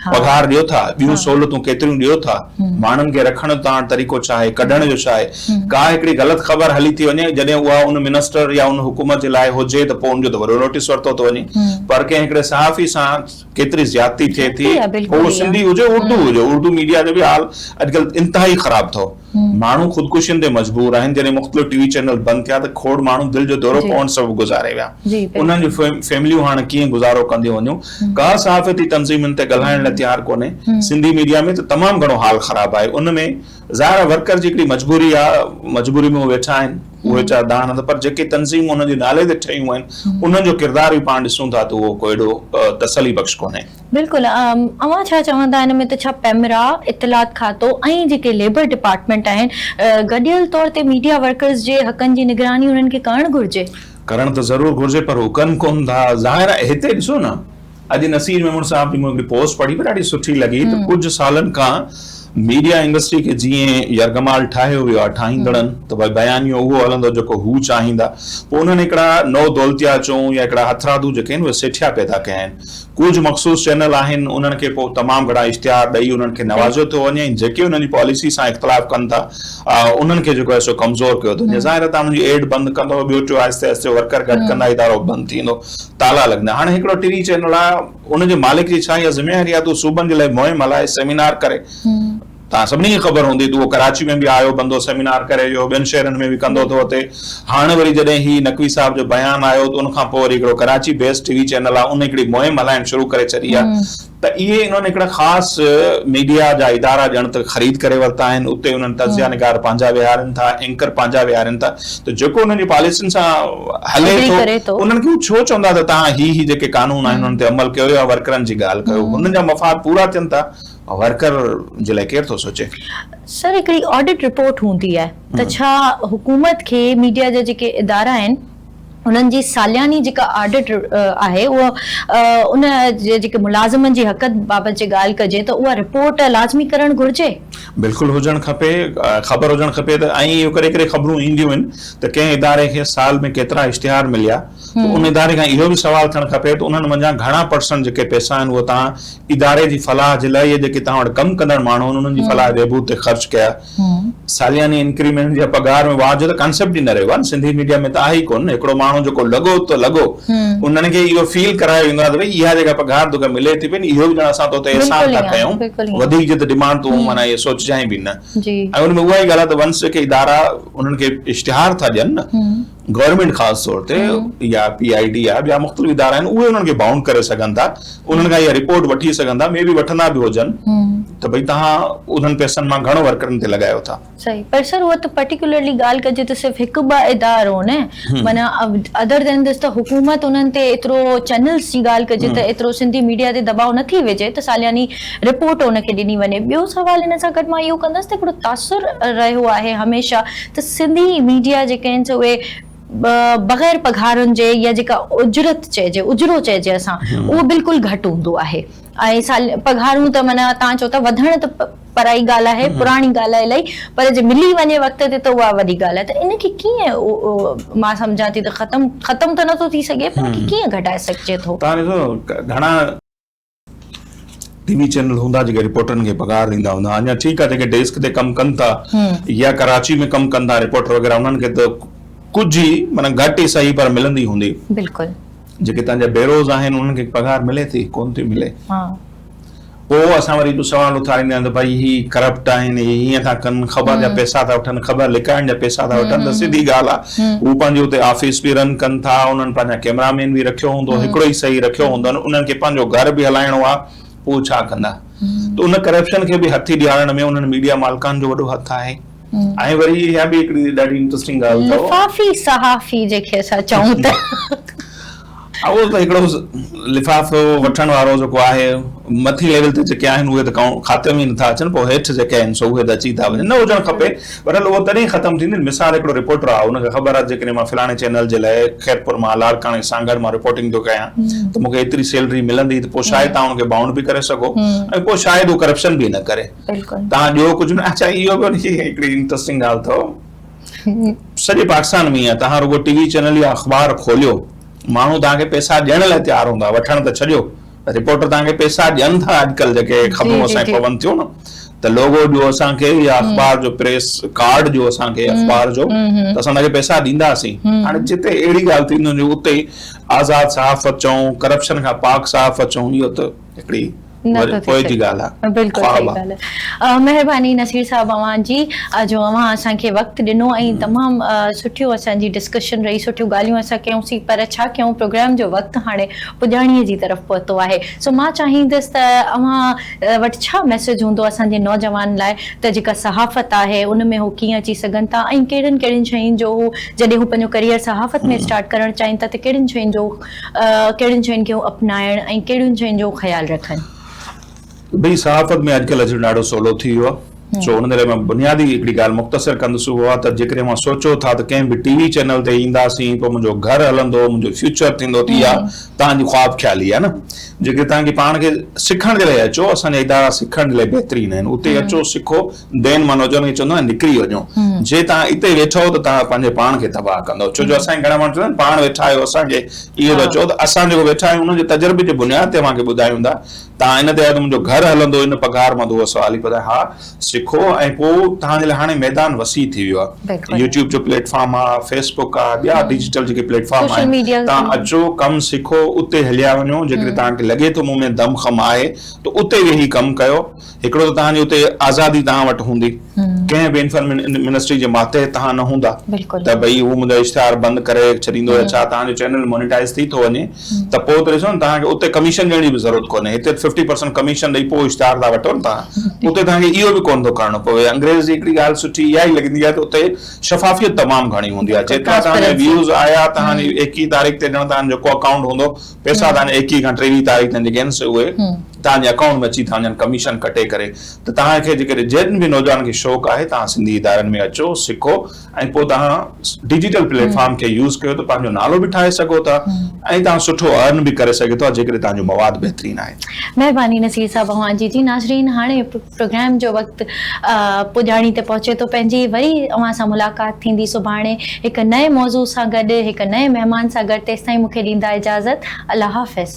پگهار ڏيو ٿا، ٻيون سهولتون ڪيتريون ڏيو ٿا، ماڻهن کي رکڻ جو توهان وٽ طريقو ڇا آهي، ڪڍڻ جو ڇا آهي، ڪا هڪڙي غلط خبر هلي ٿي وڃي، جڏهن اها ان منسٽر يا ان حڪومت جي لاء هجي ته پوء ان جو ته وڏو نوٽيس ورتو ٿو وڃي، پر ڪنهن هڪڙي صحافي سان ڪيتري زيادتي ٿئي ٿي، پوء اهو سنڌي هجي اردو هجي، اردو ميڊيا جو به حال اڄڪلهه انتهائي خراب اٿو. ماڻهو خودڪشين تي مجبور آهن، جڏهن مختلف ٽي وي چينل بند ٿيا ته کوڙ ماڻهو دل جو دورو پوڻ سبب گذاري ويا، انهن جون فيمليون هاڻ ڪيئن گذارو ڪنديون وڃون، ڪا صحافتي تنظيم ان تي ڳالهائڻ لاء تيار ڪونهي، سنڌي ميڊيا ۾ ته تمام گهڻو حال خراب آهي، ان ۾ ظاهر آهي ورڪر جي هڪڙي مجبوري آهي، مجبوري ۾ هو ويٺا آهن، اهي ويچارا دانهن هنڌ پر جيڪي تنظيمون انهن جي نالي تي ٺهيون آهن، انهن جو ڪردار به پاڻ ڏسون ٿا ته اهو ڪو ايڏو تسلي بخش ڪونهي. بلڪل اوهان ڇا چوندا ان ۾ ته ڇا پيمرا، اطلاعات کاتو ۽ جيڪي ليبر ڊپارٽمينٽ آهن گڏيل طور تي ميڊيا ورڪرز جي حقن جي نگراني انهن کي ڪرڻ گهرجي؟ ڪرڻ ته ضرور گهرجي پر هو ڪن ڪون ٿا ظاهر آهي هتي ڏسو نه اڄ نصير ميمڻ صاحب جي مون هڪڙي پوسٽ پڙهي پئي ڏاڍي سٺي لڳي ته ڪجهه سالن کان ميڊيا انڊسٽري کي جيئن يرغمال ٺاهيو ويو آهي ٺاهيندڙن ته ڀاء بيانيو اهو هلندو جيڪو هو چاهيندا پوء انهن هڪڙا نو دولتيا چئون يا هڪڙا هٿرادو جيڪي آهن اهي سيٺيا پيدا ڪيا آهن ڪجهه مخصوص چينل آهن انهن کي پوء تمام گهڻا اشتهار ڏئي انهن کي نوازيو ٿو وڃي ۽ جيڪي انهن جي پاليسي سان اختلاف ڪن ٿا انهن کي جيڪو آهي سو ڪمزور ڪيو ٿو وڃي ظاهر آهي توهان انهن جي ايڊ بند ڪندو ٻيو ٽيو آهستي آهستي ورڪر گهٽ ڪندا ادارو بند ٿيندو تالا لڳندا هاڻي هڪڙو ٽي چينل آهي ان جي مالڪ جي ڇا اها ذميواري آهي ته هو صوبن جي لاء مهم هلائي سيمينار ڪري توهان سڀني کي خبر هوندي ته اهو ڪراچي ۾ به آيو بندو سيمينار ڪري ويو ٻين شهرن ۾ به ڪندو ٿو اتي هاڻ وري جڏهن هي نقوي صاحب جو بيان آيو ته ان کان پوء وري هڪڙو Karachi base T V channel آ ان هڪڙي مهم هلائڻ شروع ڪري ڇڏي آ ته اهي انهن هڪڙا خاص ميڊيا جا ادارا ڄڻ ته خريد ڪري ورتا آهن اتي انهن تجزيا نگار پنهنجا ويهارين ٿا اينڪر پنهنجا ويهارين ٿا ته جيڪو انهن جي پاليسين سان هلي ٿو انهن کي هو ڇو چوندا ته توهان هي هي جيڪي قانون آهن انهن تي عمل ڪيو يا ورڪرن جي ڳالهه ڪيو هنن جا مفاد پورا ٿين ٿا ورڪر جي لاء ڪير ٿو سوچي؟ سر هڪڙي آڊٽ رپورٽ هوندي آهي ته ڇا حڪومت کي ميڊيا جا جيڪي ادارا آهن انهن جي سالياني جيڪا آڊٽ آهي اها ان جي جيڪي ملازمن جي حقن بابت جي ڳالهه ڪجي ته اها رپورٽ لازمي ڪرڻ گهرجي؟ بلڪل هجڻ کپي خبر هجڻ کپي ته ائين اهو ڪڏهن ڪڏهن خبرون اينديون آهن ته ڪنهن اداري کي سال ۾ ڪيترا اشتهار مليا. ته ان اداري کان اهو به سوال ٿيڻ کپي ته انهن منجهان گهڻا پرسنٽ جيڪي پئسا آهن اهي توهان اداري جي فلاح جي لاء يا جيڪي توهان وٽ ڪم ڪندڙ ماڻهو آهن انهن جي فلاح بهبود تي خرچ ڪيا سالياني انڪريمينٽ يا پگهار ۾ واهه جو ته ڪانسيپٽ ئي نه رهيو آهي نه سنڌي ميڊيا ۾ ته آهي ئي ڪونه هڪڙو ماڻهو جيڪو لڳو ته لڳو انهن کي اهو فيل ڪرايو ويندو آهي ته ڀئي اها جيڪا پگهار توکي ملي ٿي پئي نه اهو به ڄڻ اسان تو تي احسان ٿا ڪيون وڌيڪ جي ته ڊمانڊ تون معنيٰ اهي سوچجانء به نه ۽ ان ۾ اها ئي ڳالهه آهي ته ونس جيڪي ادارا انهن کي اشتهار ٿا ڏين نه گورنمينٽ خاص طور تي يا پي آء ڊي آء ٻيا مختلف ادارا آهن اهي انهن کي بائونڊ ڪري سگهن ٿا انهن کان اها رپورٽ وٺي سگهن ٿا مي بي وٺندا به هجن ته ڀئي تهان انهن پئسن مان گهڻو ورڪرن تي لڳايو ٿا. صحيح پر سر هو ته پرٽيڪولرلي ڳالهه ڪجي ته صرف هڪ ٻه ادارو نه معنيٰ ادر دين دس ته حڪومت انهن تي ايترو چئنلز جي ڳالهه ڪجي ته ايترو سنڌي ميڊيا تي دٻاء نه ٿي وجهي ته سالياني رپورٽ ان کي ڏني وڃي. ٻيو سوال ان سان گڏ مان اهو ڪندس ته هڪڙو تاثر رهيو آهي هميشه ته سنڌي ميڊيا جيڪي آهن سي اهي بغير پگهارن جي يا جيڪا اجرت چئجي اجرو چئجي اسان اهو بلڪل گهٽ هوندو آهي ۽ سال پگهارون ته معنيٰ توهان چئو ٿا وڌڻ ته پرائي ڳالهه آهي پراڻي ڳالهه آهي الائي پر جي ملي وڃي وقت تي ته اها وڏي ڳالهه آهي ته ان کي ڪيئن مان سمجهان ٿي ته ختم ختم ته نٿو ٿي سگهي پر ان کي ڪيئن گهٽائي سگهجي ٿو. توهان ڏسو گهڻا ٽي وي چينل هوندا جيڪي رپورٽرن کي پگهار ڏيندا هوندا اڃا ٺيڪ آهي جيڪي ڊيسڪ تي ڪم ڪن ٿا يا ڪراچي ۾ ڪم ڪن ٿا رپورٽر وغيره انهن کي ته ڪجهه ئي معنيٰ گهٽ ئي صحيح پر ملندي هوندي بلڪل جيڪي تنهن جا بيروز آهن انهن کي پگهار ملي ٿي ڪون ٿي ملي ها پوء اسان وري سوال اٿاريندا آهيون ته ڀائي هي ڪرپٽ آهن هي هيئن ٿا ڪن خبر جا پيسا ٿا وٺن خبر لڪائڻ جا پيسا ٿا وٺن ته سڌي ڳالهه آهي هو پنهنجي اتي آفيس به رن ڪن ٿا انهن پنهنجا ڪيمرا مين به رکيو هوندو هڪڙو ئي صحيح رکيو هوندن انهن کي پنهنجو گهر به هلائڻو آ پوء ڇا ڪندا ته ان ڪرپشن کي به هٿي ڏيارڻ ۾ انهن ميڊيا مالڪان جو وڏو هٿ آهي ۽ وري اها به هڪڙي ڏاڍي انٽرسٽنگ ڳالهه اٿو لفافي صحافي جيڪي اسان چئون ته. اهو ته هڪڙو لفافو وٺڻ وارو جيڪو آهي مٿين ليول تي جيڪي آهن اهي ته ڪائون خاتي ۾ ئي نٿا اچن پوء هيٺ جيڪي آهن سو اهي ته اچي ٿا وڃن نه هجڻ کپي بهرحال اهو تڏهن ختم ٿيندي مثال هڪڙو رپورٽر آهي ان کي خبر آهي جيڪڏهن مان فلاڻي چينل جي لاء خيرپور مان لاڙڪاڻي سانگهڙ مان رپورٽنگ ٿو ڪيان ته مون کي ايتري سيلري ملندي ته پوء شايد تان ان کي بائونڊ به ڪري سگهو ۽ پوء شايد هو ڪرپشن به نه ڪري تان ڏيو ڪجهه نه اچا اهو به هڪڙي انٽرسٽنگ ڳالهه اٿو. سڄي پاڪستان ۾ ايئن آهي توهان رڳو ٽي وي چينل يا اخبار کوليو ماڻهو توهان کي پيسا ڏيڻ لاء تيار هوندا وٺڻ ته ڇڏيو رپورٽر توهان کي پيسا ڏين ٿا اڄڪلهه جيڪي خبرون اسان کي پون ٿيون نه ته لوگو ڏيو اسان کي يا اخبار جو پريس ڪارڊ ڏيو اسان کي اخبار جو ته اسان تهانکي پيسا ڏينداسين هاڻي جتي اهڙي ڳالهه ٿينديون اتي آزاد صحافت چئون ڪرپشن کان پاڪ صحافت چئون اهو ته هڪڙي پوء جي ڳالهه آهي. بلڪل صحيح ڳالهه آهي. مهرباني نصير صاحب اوهان جي جو اوهان اسان کي وقت ڏنو ۽ تمام سٺيو اسان جي ڊسڪشن رهي سٺيون ڳالهيون اسان ڪيون سين پر ڇا ڪيون پروگرام جو وقت هاڻي پڄاڻي جي طرف پهتو آهي سو مان چاهيندس ته اوهان وٽ ڇا ميسيج هوندو اسان جي نوجوان لاء ته جيڪا صحافت آهي ان ۾ هو ڪيئن اچي سگهن ٿا ۽ ڪهڙين ڪهڙين شين جو هو جڏهن هو پنهنجو ڪريئر صحافت ۾ اسٽارٽ ڪرڻ چاهين ٿا ته ڪهڙين شين جو ڪهڙين شين کي هو اپنائڻ ۽ ڪهڙين شين جو هو خيال رکن. ڀئي صحافت ۾ اڄڪلهه اچڻ ڏاڍو سولو ٿي ويو آهي سو ان ڪري مان بنيادي هڪڙي ڳالهه مختصر ڪندس اهو آهي ته جيڪڏهن اوهان سوچو ٿا ته ڪنهن به ٽي وي چينل تي اينداسين پوء منهنجو گهر هلندو منهنجو فيوچر ٿيندو ته اها توهان جي خواب خيالي آهي نه جيڪڏهن توهان کي پاڻ کي سکڻ جي لاء اچو اسان جا ادارا سکڻ جي لاء بهترين آهن اتي اچو سکو دين مان نوجوان کي چوندو آهي نڪري وڃو جي توهان اتي ويٺو ته توهان پنهنجي پاڻ کي تباهه ڪندو ڇو جو اسان کي گهڻا ماڻهو چوندا آهن پاڻ ويٺا آهيو اسان کي اهو ٿا چئو ته اسان جيڪو ويٺا آهيون ان جي تجربي جي بنياد تي اوهان کي ٻڌايون ٿا توهان ان تي آهيو ته منهنجو گهر هلندو ان پگهار مان دوهه سوال هي ٻڌايو ها سکو ۽ پوء توهان جي لاء هاڻي ميدان وسيع ٿي ويو آهي يوٽيوب جو پليٽ فارم آهي فيس بڪ آهي ٻيا ڊجيٽل جيڪي پليٽ فارم آهن توهان اچو ڪم سکو اتي هليا وڃو جيڪڏهن توهان کي لڳي ٿو مون ۾ دم خم آهي ته اتي ويهي ڪم ڪيو هڪڙو ته توهان جي اتي آزادي توهان وٽ هوندي، ڪنهن به انفرمنسٽري جي ماتحت توهان نه هوندا ته ڀئي هو منهنجا اشتهار بند ڪري ڇڏيندو يا ڇا توهان جو چينل مونيٽائيز ٿي ٿو وڃي ته پوء ته ڏسو نه توهان کي اتي ڪميشن ڏيڻ جي به ضرورت ڪونهي هتي ففٽي پرسنٽ ڪميشن ڏئي پوء اشتهار ٿا وٺو نه توهان اتي توهان کي اهو به ڪونه ٿو ڪرڻو پوي انگريز جي هڪڙي ڳالهه سٺي اها ئي لڳندي آهي ته اتي شفافيت تمام گهڻي هوندي آهي جيترا توهان جا ويوز آيا توهان جي ايڪيهين تاريخ تي ڄڻ توهان جو جيڪو اڪائونٽ هوندو پئسا توهان جي ايڪيهه کان ٽيويهه تاريخ تائين جيڪي آهن سي اهي توهان جي اڪائونٽ ۾ اچي ٿا وڃن ڪميشن ڪٽي ڪري ته توهان کي جيڪڏهن جن به نوجوانن کي شوق آهي توهان سنڌي ادارن ۾ اچو سکو ۽ پوء توهان ڊجيٽل پليٽ فارم کي يوز ڪيو ته پنهنجو نالو به ٺاهي سگهو ٿا ۽ توهان سٺو ارن به ڪري سگهي ٿو جيڪڏهن توهان جو مواد بهترين آهي. مهرباني نصير صاحب اوهان جي جي ناظرين هاڻي. پروگرام جو وقت پڄاڻي تي پهچي ٿو پنهنجي وري اوهان سان ملاقات ٿيندي سڀاڻي هڪ نئين موضوع سان گڏ هڪ نئين مهمان سان گڏ تيستائين مونکي ڏيندا اجازت الله حافظ.